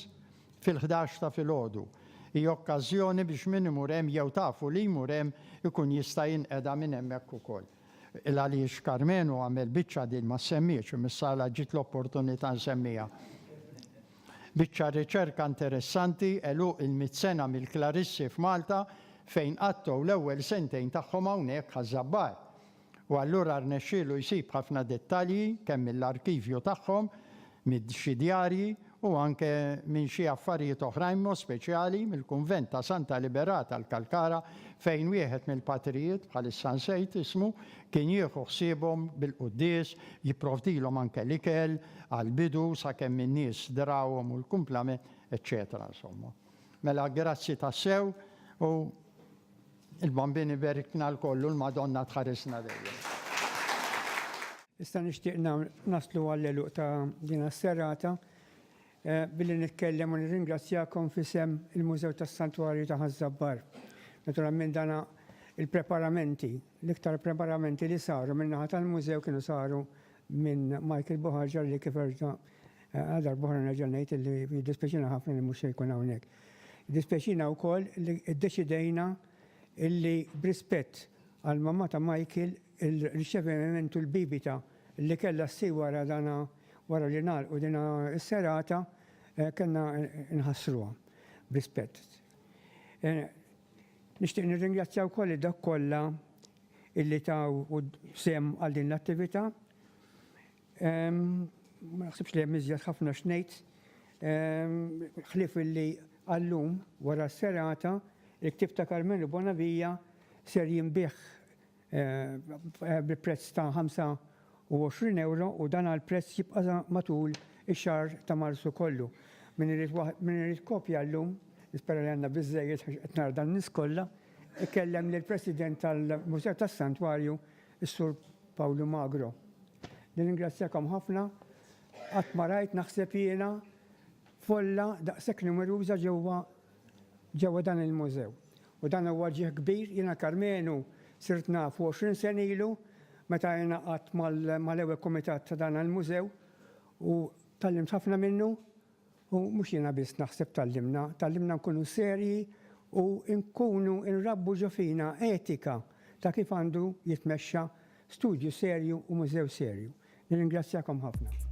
fil-ħdax ta' filgħodu. Hi okkażjoni biex min imur hemm jew tafu li jmur hemm ikun jista' jinqeda minn hemmhekk ukoll. Il-għaliex Karmenu għamel biċċa din ma ssemmietx, imissa għala ġiet l-opportunità nsemmiha. Biċċa riċerka interessanti, għeluq il-mitt sena mill-Klarissi f'Malta fejn qattgħu l-ewwel sentejn tagħhom hawnhekk Ħaż-Żabbar. u allura rnexxielu jsib ħafna dettalji kemm mill-arkivju tagħhom, minn xi djarji u anke minn xi affarijiet oħrajn b'mod speċjali mill-kunvent ta' Santa Liberata l-Kalkara fejn wieħed mill-patrijiet, bħalissa nsejt ismu, kien jieħu ħsiebhom bil-quddies, jipprovdilhom anke l-ikel għall-bidu sakemm in-nies drawhom u l-kumplament, eċċetera Insomma, mela grazzi tassew u. Il-Bambin iberikna lkoll u l-Madonna tħarisna dejjem. Issa nixtieq naslu għall-għeluq ta' din is-serata billi nitkellem u nirringrazzjakom f'isem il-Mużew tas-Santwarju ta' Ħaż-Żabbar. Naturalment dan il-preparamenti, l-iktar preparamenti li saru min-naħa tal-Mużew kienu saru minn Michael Buħarġa li kif erġa' għal darb'oħra nerġa' ngħid illi jiddispjaċina ħafna li mhux se jkun hawnhekk. Jiddispjaċina wkoll li ddeċidejna li b'rispett għal mamma ta' Michael, il-riċevi mementu l-bibita li kellha ssir wara dana wara li ngħalqu dina s-serata, kellna nħassruha b'rispett. Nixtieq nirringrazzja wkoll lil dawk kollha li taw sehem għal din l-attivita. Ma naħsibx li hemm iżjed ħafna x'ngħid ħlief illi għal-lum wara s-serata il-ktieb ta' Karmenu Bonavia ser jinbiegħ bi prezz ta' 25 ewro u dan għall-prezz jibqa' sa matul ix-xahar ta' Marzu kollu. Min irid min irid kopja llum, nispera li għandna biżżejjed għax qed nara dan-nies kollha, ikellem lill-President tal-Mużew tas-Santwarju Is-Sur Pawlu Magro, Nirringrazzjakom ħafna. Qatt ma rajt, naħseb jiena, folla daqshekk numeruża ġewwa ġewwa dan il-mużew. U dan huwa ġieħ kbir. Jiena l-Karmenu sirt nafu għoxrin sena ilu meta ingħaqadt mal-ewwel kumitat ta' dan il-mużew u tgħallimt ħafna minnu. U mhux jiena biss naħseb tgħallimna, tgħallimna nkunu serji u nkunu nrabbu ġo fina etika ta' kif għandu jitmexxa studju serju u mużew serju. Nirringrazzjakom ħafna.